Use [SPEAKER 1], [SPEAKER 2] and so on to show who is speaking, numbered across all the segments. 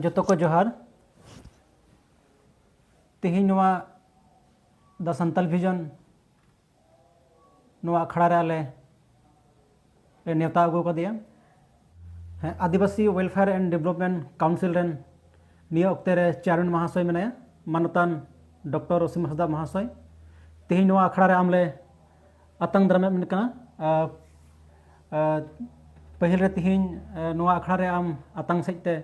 [SPEAKER 1] ᱡᱚᱛᱚ ᱠᱚ ᱡᱚᱦᱟᱨ ᱛᱮᱦᱮᱧ ᱱᱚᱣᱟ ᱫᱟ ᱥᱟᱱᱛᱟᱞ ᱵᱷᱤᱡᱚᱱ ᱱᱚᱣᱟ ᱟᱠᱷᱲᱟ ᱨᱮ ᱟᱞᱮ ᱞᱮ ᱱᱮᱣᱛᱟ ᱟᱹᱜᱩ ᱟᱠᱟᱫᱮᱭᱟ ᱦᱮᱸ Adivasi welfare and development council ᱨᱮᱱ ᱱᱤᱭᱟᱹ ᱚᱠᱛᱮ ᱨᱮ ᱪᱮᱭᱟᱨᱢᱮᱱ ᱢᱟᱦᱟᱥᱚᱭ ᱢᱮᱱᱟᱭᱟ ᱢᱟᱱᱚᱛᱟᱱ ᱰᱚᱠᱴᱚᱨ ᱚᱥᱤᱢ ᱦᱟᱸᱥᱫᱟ ᱢᱟᱦᱟᱥᱚᱭ ᱛᱮᱦᱮᱧ ᱱᱚᱣᱟ ᱟᱠᱷᱲᱟ ᱨᱮ ᱟᱢ ᱞᱮ ᱟᱛᱟᱝ ᱫᱟᱨᱟᱢᱮᱫ ᱢᱮᱱ ᱠᱟᱱᱟ ᱯᱟᱹᱦᱤᱞ ᱨᱮ ᱛᱤᱦᱤᱧ ᱱᱚᱣᱟ ᱟᱠᱷᱲᱟ ᱨᱮ ᱟᱢ ᱟᱛᱟᱝ ᱥᱮᱡ ᱛᱮ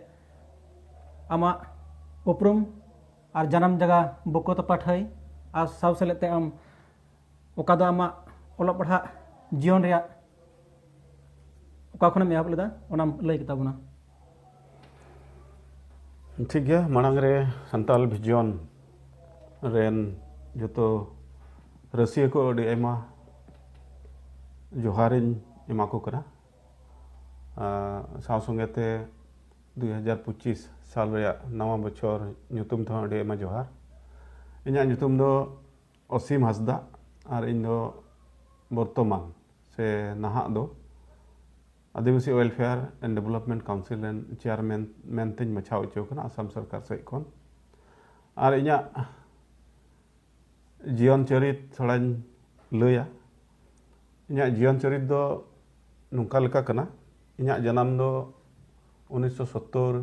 [SPEAKER 1] ᱟᱢᱟᱜ ᱩᱯᱨᱩᱢ ᱟᱨ ᱡᱟᱱᱟᱢ ᱡᱟᱭᱜᱟ ᱵᱩᱠᱚ ᱛᱚᱯᱟ ᱴᱷᱟᱹᱭ ᱟᱨ ᱥᱟᱶ ᱥᱮᱞᱮᱫ ᱛᱮ ᱟᱢ ᱚᱠᱟ ᱫᱚ ᱟᱢᱟᱜ ᱚᱞᱚᱜ ᱯᱟᱲᱦᱟᱜ ᱡᱤᱭᱚᱱ ᱨᱮᱭᱟᱜ ᱚᱠᱟ ᱠᱷᱚᱱᱮᱢ ᱮᱦᱚᱵ ᱞᱮᱫᱟ ᱚᱱᱟᱢ ᱞᱟᱹᱭ ᱠᱮᱛᱟ ᱵᱚᱱᱟ ᱴᱷᱤᱠ ᱜᱮᱭᱟ ᱢᱟᱲᱟᱝ ᱨᱮ ᱥᱟᱱᱛᱟᱞ ᱵᱷᱤᱡᱚᱱ ᱨᱮᱱ ᱡᱚᱛᱚ ᱨᱟᱹᱥᱤᱭᱟᱹ ᱠᱚ ᱟᱹᱰᱤ ᱟᱭᱢᱟ ᱡᱚᱦᱟᱨᱤᱧ ᱮᱢᱟ ᱠᱚ ᱠᱟᱱᱟ ᱥᱟᱶ ᱥᱚᱸᱜᱮ ᱛᱮ ᱫᱩᱭ ᱦᱟᱡᱟᱨ ᱯᱚᱸᱪᱤᱥ ᱥᱟᱞ ᱨᱮᱭᱟᱜ ᱱᱟᱣᱟ ᱵᱚᱪᱷᱚᱨ ᱧᱩᱛᱩᱢ ᱛᱮᱦᱚᱸ ᱟᱹᱰᱤ ᱟᱭᱢᱟ ᱡᱚᱦᱟᱨ ᱤᱧᱟᱹᱜ ᱧᱩᱛᱩᱢ ᱫᱚ ᱚᱥᱤᱢ ᱦᱟᱸᱥᱫᱟ ᱟᱨ ᱤᱧ ᱫᱚ ᱵᱚᱨᱛᱚᱢᱟᱱ ᱥᱮ ᱱᱟᱦᱟᱜ ᱫᱚ Adivasi welfare and development council ᱨᱮᱱ ᱪᱮᱭᱟᱨᱢᱮᱱ ᱢᱮᱱᱛᱮᱧ ᱵᱟᱪᱷᱟᱣ ᱦᱚᱪᱚ ᱟᱠᱟᱱᱟ ᱟᱥᱟᱢ ᱥᱚᱨᱠᱟᱨ ᱥᱮᱫ ᱠᱷᱚᱱ ᱟᱨ ᱤᱧᱟᱹᱜ ᱡᱤᱭᱚᱱ ᱪᱚᱨᱤᱛ ᱛᱷᱚᱲᱟᱧ ᱞᱟᱹᱭᱟ ᱤᱧᱟᱹᱜ ᱡᱤᱭᱚᱱ ᱪᱚᱨᱤᱛ ᱫᱚ ᱱᱚᱝᱠᱟ ᱞᱮᱠᱟ ᱠᱟᱱᱟ ᱤᱧᱟᱹᱜ ᱡᱟᱱᱟᱢ ᱫᱚ ᱩᱱᱤᱥᱥᱚ ᱥᱳᱛᱛᱳᱨ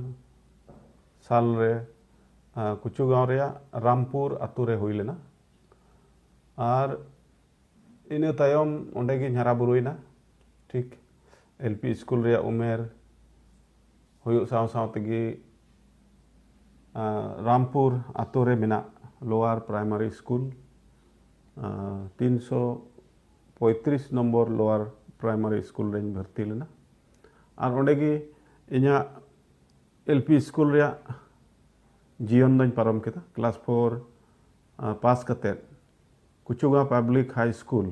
[SPEAKER 1] ᱥᱟᱞ ᱨᱮ ᱠᱩᱪᱩ ᱜᱟᱶ ᱨᱮᱭᱟᱜ ᱨᱟᱢᱯᱩᱨ ᱟᱛᱳ ᱨᱮ ᱦᱩᱭ ᱞᱮᱱᱟ ᱟᱨ ᱤᱱᱟᱹ ᱛᱟᱭᱚᱢ ᱚᱸᱰᱮ ᱜᱤᱧ ᱦᱟᱨᱟ ᱵᱩᱨᱩᱭᱮᱱᱟ ᱴᱷᱤᱠ ᱮᱞ ᱯᱤ ᱤᱥᱠᱩᱞ ᱨᱮᱭᱟᱜ ᱩᱢᱮᱨ ᱦᱩᱭᱩᱜ ᱥᱟᱶ ᱥᱟᱶ ᱛᱮᱜᱮ ᱨᱟᱢᱯᱩᱨ ᱟᱛᱳ ᱨᱮ ᱢᱮᱱᱟᱜ ᱞᱳᱣᱟᱨ ᱯᱨᱟᱭᱢᱟᱨᱤ ᱤᱥᱠᱩᱞ ᱛᱤᱱᱥᱚ ᱯᱚᱸᱭᱛᱨᱤᱥ ᱱᱚᱢᱵᱚᱨ ᱞᱳᱣᱟᱨ ᱯᱨᱟᱭᱢᱟᱨᱤ ᱤᱥᱠᱩᱞ ᱨᱮᱧ ᱵᱷᱚᱨᱛᱤ ᱞᱮᱱᱟ ᱟᱨ ᱚᱸᱰᱮ ᱜᱮ ᱤᱧᱟᱹᱜ ᱮᱞ ᱯᱤ ᱥᱠᱩᱞ ᱨᱮᱭᱟᱜ ᱡᱤᱭᱚᱱ ᱫᱚᱧ ᱯᱟᱨᱚᱢ ᱠᱮᱫᱟ ᱠᱞᱟᱥ ᱯᱷᱳᱨ ᱯᱟᱥ ᱠᱟᱛᱮᱫ ᱠᱩᱪᱩᱜᱟᱸᱣ ᱯᱟᱵᱽᱞᱤᱠ ᱦᱟᱭ ᱥᱠᱩᱞ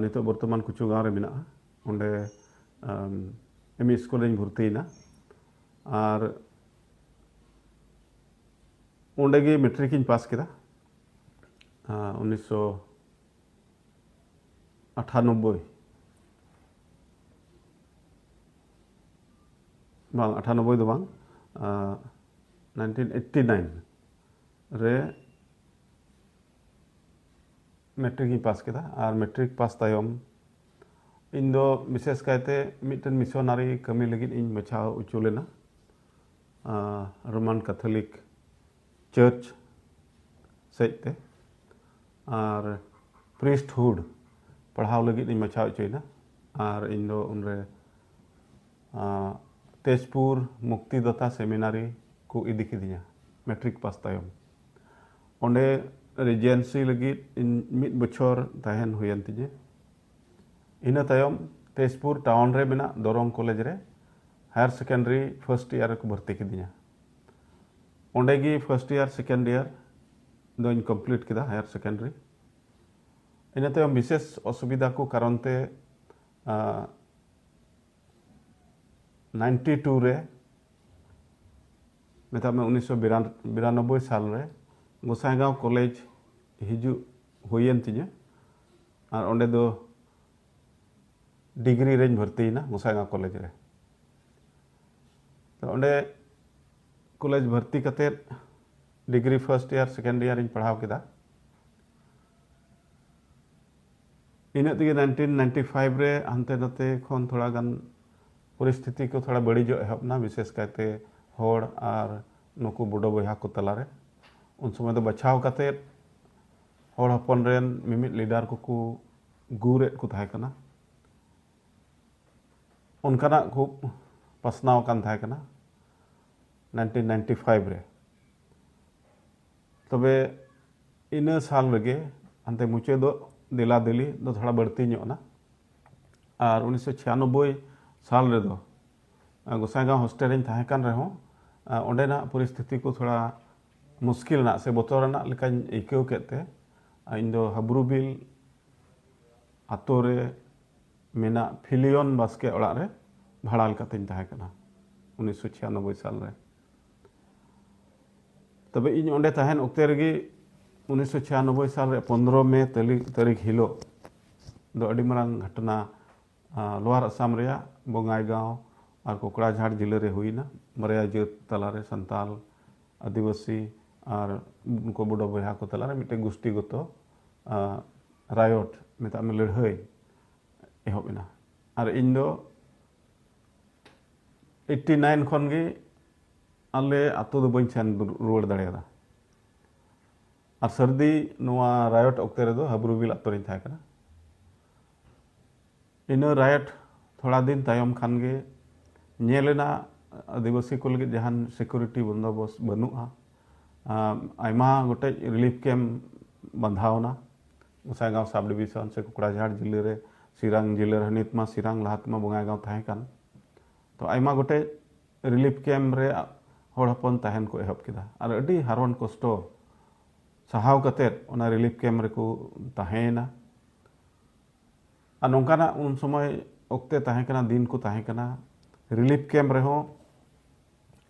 [SPEAKER 1] ᱱᱤᱛᱚᱜ ᱵᱚᱨᱛᱚᱢᱟᱱ ᱠᱩᱪᱩᱜᱟᱸᱣ ᱨᱮ ᱢᱮᱱᱟᱜᱼᱟ ᱚᱸᱰᱮ ᱮᱢ ᱤ ᱥᱠᱩᱞ ᱨᱮᱧ ᱵᱷᱚᱨᱛᱤᱭᱮᱱᱟ ᱟᱨ ᱚᱸᱰᱮ ᱜᱮ ᱢᱮᱴᱨᱤᱠ ᱤᱧ ᱯᱟᱥ ᱠᱮᱫᱟ ᱩᱱᱤᱥᱥᱚ ᱟᱴᱷᱟᱱᱚᱵᱵᱳᱭ ᱵᱟᱝ ᱟᱴᱷᱟᱱᱚᱵᱵᱳᱭ ᱫᱚ ᱵᱟᱝ ᱱᱟᱭᱤᱱᱴᱤᱱ ᱮᱭᱤᱴᱴᱤ ᱱᱟᱭᱤᱱ ᱨᱮ ᱢᱮᱴᱨᱤᱠ ᱤᱧ ᱯᱟᱥ ᱠᱮᱫᱟ ᱟᱨ ᱢᱮᱴᱨᱤᱠ ᱯᱟᱥ ᱛᱟᱭᱚᱢ ᱤᱧ ᱫᱚ ᱵᱤᱥᱮᱥ ᱠᱟᱭᱛᱮ ᱢᱤᱫᱴᱮᱱ ᱢᱤᱥᱚᱱᱟᱨᱤ ᱠᱟᱹᱢᱤ ᱞᱟᱹᱜᱤᱫ ᱤᱧ ᱵᱟᱪᱷᱟᱣ ᱦᱚᱪᱚ ᱞᱮᱱᱟ ᱨᱳᱢᱟᱱ ᱠᱟᱛᱷᱚᱞᱤᱠ ᱪᱟᱹᱨᱪ ᱥᱮᱡ ᱛᱮ ᱟᱨ ᱯᱨᱤᱥᱴ ᱦᱩᱰ ᱯᱟᱲᱦᱟᱣ ᱞᱟᱹᱜᱤᱫ ᱤᱧ ᱢᱟᱪᱷᱟᱣ ᱦᱚᱪᱚᱭᱮᱱᱟ ᱟᱨ ᱤᱧ ᱫᱚ ᱩᱱᱨᱮ ᱛᱮᱡᱽᱯᱩᱨ ᱢᱩᱠᱛᱤᱫᱟᱛᱟ ᱥᱮᱢᱤᱱᱟᱨᱤ ᱠᱚ ᱤᱫᱤ ᱠᱤᱫᱤᱧᱟ ᱢᱮᱴᱨᱤᱠ ᱯᱟᱥ ᱛᱟᱭᱚᱢ ᱚᱸᱰᱮ ᱨᱤᱡᱮᱱᱥᱤ ᱞᱟᱹᱜᱤᱫ ᱤᱧ ᱢᱤᱫ ᱵᱚᱪᱷᱚᱨ ᱛᱟᱦᱮᱱ ᱦᱩᱭᱮᱱ ᱛᱤᱧᱟᱹ ᱤᱱᱟᱹ ᱛᱟᱭᱚᱢ ᱛᱮᱡᱽᱯᱩᱨ ᱴᱟᱣᱩᱱ ᱨᱮ ᱢᱮᱱᱟᱜ ᱫᱚᱨᱚᱝ ᱠᱚᱞᱮᱡᱽ ᱨᱮ ᱦᱟᱭᱟᱨ ᱥᱮᱠᱮᱱᱰᱟᱨᱤ ᱯᱷᱟᱥᱴ ᱤᱭᱟᱨ ᱨᱮᱠᱚ ᱵᱷᱚᱨᱛᱤ ᱠᱤᱫᱤᱧᱟ ᱚᱸᱰᱮ ᱜᱮ ᱯᱷᱟᱨᱥᱴ ᱤᱭᱟᱨ ᱥᱮᱠᱮᱱᱰ ᱤᱭᱟᱨ ᱫᱚᱧ ᱠᱚᱢᱯᱞᱤᱴ ᱠᱮᱫᱟ ᱦᱟᱭᱟᱨ ᱥᱮᱠᱮᱱᱰᱟᱨᱤ ᱤᱱᱟᱹ ᱛᱟᱭᱚᱢ ᱵᱤᱥᱮᱥ ᱚᱥᱩᱵᱤᱫᱷᱟ ᱠᱚ ᱠᱟᱨᱚᱱ ᱛᱮ ᱱᱟᱭᱤᱱᱴᱤ ᱴᱩ ᱨᱮ ᱢᱮᱛᱟᱜ ᱢᱮ ᱩᱱᱤᱥᱥᱚ ᱵᱤᱨᱟᱱᱚᱵᱵᱳᱭ ᱥᱟᱞ ᱨᱮ ᱜᱳᱥᱟᱭᱜᱟᱸᱣ ᱠᱚᱞᱮᱡᱽ ᱦᱤᱡᱩᱜ ᱦᱩᱭᱮᱱ ᱛᱤᱧᱟᱹ ᱟᱨ ᱚᱸᱰᱮ ᱫᱚ ᱰᱤᱜᱽᱨᱤ ᱨᱮᱧ ᱵᱷᱚᱨᱛᱤᱭᱮᱱᱟ ᱢᱩᱥᱟᱭᱜᱟ ᱠᱚᱞᱮᱡᱽ ᱨᱮ ᱛᱚ ᱚᱸᱰᱮ ᱠᱚᱞᱮᱡᱽ ᱵᱷᱚᱨᱛᱤ ᱠᱟᱛᱮᱫ ᱰᱤᱜᱽᱨᱤ ᱯᱷᱟᱨᱥᱴ ᱤᱭᱟᱨ ᱥᱮᱠᱮᱱᱰ ᱤᱭᱟᱨᱤᱧ ᱯᱟᱲᱦᱟᱣ ᱠᱮᱫᱟ ᱤᱱᱟᱹᱜ ᱛᱮᱜᱮ ᱱᱟᱭᱤᱱᱴᱤᱱ ᱱᱟᱭᱤᱱᱴᱤ ᱯᱷᱟᱭᱤᱵᱽ ᱨᱮ ᱦᱟᱱᱛᱮ ᱱᱟᱛᱮ ᱠᱷᱚᱱ ᱛᱷᱚᱲᱟ ᱜᱟᱱ ᱯᱚᱨᱤᱥᱛᱷᱤᱛᱤ ᱠᱚ ᱛᱷᱚᱲᱟ ᱵᱟᱹᱲᱤᱡᱚᱜ ᱮᱦᱚᱵ ᱮᱱᱟ ᱵᱤᱥᱮᱥ ᱠᱟᱭᱛᱮ ᱦᱚᱲ ᱟᱨ ᱱᱩᱠᱩ ᱵᱚᱰᱚ ᱵᱚᱭᱦᱟ ᱠᱚ ᱛᱟᱞᱟᱨᱮ ᱩᱱ ᱥᱚᱢᱚᱭ ᱫᱚ ᱵᱟᱪᱷᱟᱣ ᱠᱟᱛᱮᱫ ᱦᱚᱲ ᱦᱚᱯᱚᱱ ᱨᱮᱱ ᱢᱤᱢᱤᱫ ᱞᱤᱰᱟᱨ ᱠᱚᱠᱚ ᱜᱩᱨᱮᱫ ᱠᱚ ᱛᱟᱦᱮᱸ ᱠᱟᱱᱟ ᱚᱱᱠᱟᱱᱟᱜ ᱠᱷᱩᱵ ᱯᱟᱥᱱᱟᱣ ᱟᱠᱟᱱ ᱛᱟᱦᱮᱸ ᱠᱟᱱᱟ ᱱᱟᱭᱤᱱᱴᱤᱱ ᱱᱟᱭᱤᱱᱴᱤ ᱯᱷᱟᱭᱤᱵᱷ ᱨᱮ ᱛᱚᱵᱮ ᱤᱱᱟᱹ ᱥᱟᱞ ᱨᱮᱜᱮ ᱦᱟᱱᱛᱮ ᱢᱩᱪᱟᱹᱫᱚᱜ ᱫᱮᱞᱟ ᱫᱮᱞᱤ ᱫᱚ ᱛᱷᱚᱲᱟ ᱵᱟᱹᱲᱛᱤ ᱧᱚᱜ ᱮᱱᱟ ᱟᱨ ᱩᱱᱤᱥᱥᱚ ᱪᱷᱤᱭᱟᱱᱚᱵᱵᱳᱭ ᱥᱟᱞ ᱨᱮᱫᱚ ᱜᱚᱥᱟᱭᱜᱟᱸᱣ ᱦᱳᱥᱴᱮᱞ ᱨᱮᱧ ᱛᱟᱦᱮᱸ ᱠᱟᱱ ᱨᱮᱦᱚᱸ ᱚᱸᱰᱮᱱᱟᱜ ᱯᱚᱨᱤᱥᱛᱷᱤᱛᱤ ᱠᱚ ᱛᱷᱚᱲᱟ ᱢᱩᱥᱠᱤᱞ ᱟᱱᱟᱜ ᱥᱮ ᱵᱚᱛᱚᱨ ᱟᱱᱟᱜ ᱞᱮᱠᱟᱧ ᱟᱹᱭᱠᱟᱹᱣ ᱠᱮᱫ ᱛᱮ ᱤᱧ ᱫᱚ ᱦᱟᱹᱵᱽᱨᱩ ᱵᱤᱞ ᱟᱛᱳ ᱨᱮ ᱢᱮᱱᱟᱜ ᱯᱷᱤᱞᱤᱭᱚᱱ ᱵᱟᱥᱠᱮ ᱚᱲᱟᱜ ᱨᱮ ᱵᱷᱟᱲᱟ ᱞᱮᱠᱟᱛᱤᱧ ᱛᱟᱦᱮᱸ ᱠᱟᱱᱟ ᱩᱱᱤᱥᱥᱚ ᱪᱷᱤᱭᱟᱱᱚᱵᱵᱳᱭ ᱥᱟᱞ ᱨᱮ ᱛᱚᱵᱮ ᱤᱧ ᱚᱸᱰᱮ ᱛᱟᱦᱮᱱ ᱚᱠᱛᱮ ᱨᱮᱜᱮ ᱩᱱᱤᱥᱥᱚ ᱪᱷᱤᱭᱟᱱᱚᱵᱵᱳᱭ ᱥᱟᱞ ᱨᱮ ᱯᱚᱱᱨᱚ ᱢᱮ ᱛᱟᱹᱨᱤᱠᱷ ᱦᱤᱞᱳᱜ ᱫᱚ ᱟᱹᱰᱤ ᱢᱟᱨᱟᱝ ᱜᱷᱚᱴᱚᱱᱟ ᱞᱳᱣᱟᱨ ᱟᱥᱟᱢ ᱨᱮᱭᱟᱜ ᱵᱚᱝᱟᱭᱜᱟᱶ ᱟᱨ ᱠᱚᱠᱲᱟᱡᱷᱟᱲ ᱡᱤᱞᱟᱹ ᱨᱮ ᱦᱩᱭ ᱮᱱᱟ᱾ ᱵᱟᱨᱭᱟ ᱡᱟᱹᱛ ᱛᱟᱞᱟ ᱨᱮ ᱥᱟᱱᱛᱟᱞ, ᱟᱹᱫᱤᱵᱟᱹᱥᱤ ᱟᱨ ᱱᱩᱠᱩ ᱵᱳᱰᱳ ᱵᱚᱭᱦᱟ ᱠᱚ ᱛᱟᱞᱟ ᱨᱮ ᱢᱤᱫᱴᱮᱱ ᱜᱩᱥᱴᱤᱜᱚᱛᱚ ᱨᱟᱭᱚᱴ ᱢᱮᱛᱟᱜ ᱢᱮ ᱞᱟᱹᱲᱦᱟᱹᱭ ᱮᱦᱚᱵ ᱮᱱᱟ᱾ ᱟᱨ ᱤᱧ ᱫᱚ ᱮᱭᱤᱴᱴᱤ ᱱᱟᱭᱤᱱ ᱠᱷᱚᱱ ᱜᱮ ᱟᱞᱮ ᱟᱹᱛᱩ ᱫᱚ ᱵᱟᱹᱧ ᱥᱮᱱ ᱨᱩᱣᱟᱹᱲ ᱫᱟᱲᱮᱭᱟᱫᱟ᱾ ᱟᱨ ᱥᱟᱹᱨᱫᱤ ᱱᱚᱣᱟ ᱨᱟᱭᱚᱴ ᱚᱠᱛᱮ ᱨᱮᱫᱚ ᱦᱟᱹᱵᱽᱨᱩᱵᱤᱞ ᱟᱹᱛᱩ ᱨᱮᱧ ᱛᱟᱦᱮᱸ ᱠᱟᱱᱟ᱾ ᱤᱱᱟᱹ ᱨᱟᱭᱮᱴ ᱛᱷᱚᱲᱟ ᱫᱤᱱ ᱛᱟᱭᱚᱢ ᱠᱷᱟᱱ ᱜᱮ ᱧᱮᱞ ᱮᱱᱟ ᱟᱹᱫᱤᱵᱟᱹᱥᱤ ᱠᱚ ᱞᱟᱹᱜᱤᱫ ᱡᱟᱦᱟᱱ ᱥᱤᱠᱩᱨᱤᱴᱤ ᱵᱚᱱᱫᱚᱵᱚᱥ ᱵᱟᱹᱱᱩᱜᱼᱟ ᱟᱭᱢᱟ ᱜᱚᱴᱮᱡ ᱨᱤᱞᱤᱯᱷ ᱠᱮᱢ ᱵᱟᱸᱫᱷᱟᱣᱱᱟ ᱜᱚᱥᱟᱭᱜᱟᱶ ᱥᱟᱵ ᱰᱤᱵᱤᱥᱚᱱ ᱥᱮ ᱠᱚᱠᱲᱟᱡᱷᱟᱲ ᱡᱤᱞᱟᱹ ᱨᱮ ᱥᱤᱨᱟᱝ ᱡᱤᱞᱟᱹ ᱨᱮ ᱱᱤᱛ ᱢᱟ ᱥᱤᱨᱟᱝ ᱞᱟᱦᱟ ᱛᱮᱢᱟ ᱵᱚᱸᱜᱟᱭᱜᱟᱶ ᱛᱟᱦᱮᱸ ᱠᱟᱱ ᱛᱚ ᱟᱭᱢᱟ ᱜᱚᱴᱮᱡ ᱨᱤᱞᱤᱯᱷ ᱠᱮᱢ ᱨᱮ ᱦᱚᱲ ᱦᱚᱯᱚᱱ ᱛᱟᱦᱮᱱ ᱠᱚ ᱮᱦᱚᱵ ᱠᱮᱫᱟ ᱟᱨ ᱟᱹᱰᱤ ᱦᱟᱨᱚᱱ ᱠᱚᱥᱴᱚ ᱥᱟᱦᱟᱣ ᱠᱟᱛᱮ ᱚᱱᱟ ᱨᱤᱞᱤᱯᱷ ᱠᱮᱢᱯ ᱨᱮᱠᱚ ᱛᱟᱦᱮᱸᱭᱮᱱᱟ ᱟᱨ ᱱᱚᱝᱠᱟᱱᱟᱜ ᱩᱱ ᱥᱚᱢᱚᱭ ᱚᱠᱛᱮ ᱛᱟᱦᱮᱸ ᱠᱟᱱᱟ ᱫᱤᱱ ᱠᱚ ᱛᱟᱦᱮᱸ ᱠᱟᱱᱟ ᱨᱤᱞᱤᱯᱷ ᱠᱮᱢᱯ ᱨᱮᱦᱚᱸ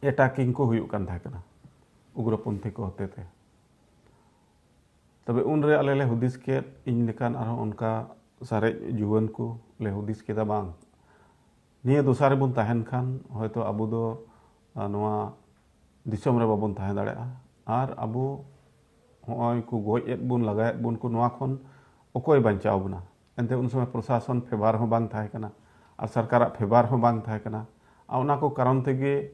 [SPEAKER 1] ᱮᱴᱟᱠᱤᱝ ᱠᱚ ᱦᱩᱭᱩᱜ ᱠᱟᱱ ᱛᱟᱦᱮᱸ ᱠᱟᱱᱟ ᱩᱜᱽᱨᱚᱯᱚᱱᱛᱷᱤ ᱠᱚ ᱦᱚᱛᱮ ᱛᱮ ᱛᱚᱵᱮ ᱩᱱᱨᱮ ᱟᱞᱮ ᱞᱮ ᱦᱩᱫᱤᱥ ᱠᱮᱫ ᱤᱧ ᱞᱮᱠᱟᱱ ᱟᱨᱦᱚᱸ ᱚᱱᱠᱟ ᱥᱟᱨᱮᱡ ᱡᱩᱣᱟᱹᱱ ᱠᱚ ᱞᱮ ᱦᱩᱫᱤᱥ ᱠᱮᱫᱟ ᱵᱟᱝ ᱱᱤᱭᱟᱹ ᱫᱚᱥᱟ ᱨᱮᱵᱚᱱ ᱛᱟᱦᱮᱱ ᱠᱷᱟᱱ ᱦᱚᱭᱛᱚ ᱟᱵᱚ ᱫᱚ ᱱᱚᱣᱟ ᱫᱤᱥᱚᱢ ᱨᱮ ᱵᱟᱵᱚᱱ ᱛᱟᱦᱮᱸ ᱫᱟᱲᱮᱭᱟᱜᱼᱟ ᱟᱨ ᱟᱵᱚ ᱦᱚᱸᱜᱼᱚᱭ ᱠᱚ ᱜᱚᱡ ᱮᱫ ᱵᱚᱱ ᱞᱟᱜᱟᱭᱮᱫ ᱵᱚᱱ ᱠᱚ ᱱᱚᱣᱟ ᱠᱷᱚᱱ ᱚᱠᱚᱭ ᱵᱟᱧᱪᱟᱣ ᱵᱚᱱᱟ ᱮᱱᱛᱮ ᱩᱱ ᱥᱚᱢᱚᱭ ᱯᱨᱚᱥᱟᱥᱚᱱ ᱯᱷᱮᱵᱟᱨ ᱦᱚᱸ ᱵᱟᱝ ᱛᱟᱦᱮᱸ ᱠᱟᱱᱟ ᱟᱨ ᱥᱚᱨᱠᱟᱨᱟᱜ ᱯᱷᱮᱵᱟᱨ ᱦᱚᱸ ᱵᱟᱝ ᱛᱟᱦᱮᱸ ᱠᱟᱱᱟ ᱟᱨ ᱚᱱᱟ ᱠᱚ ᱠᱟᱨᱚᱱ ᱛᱮᱜᱮ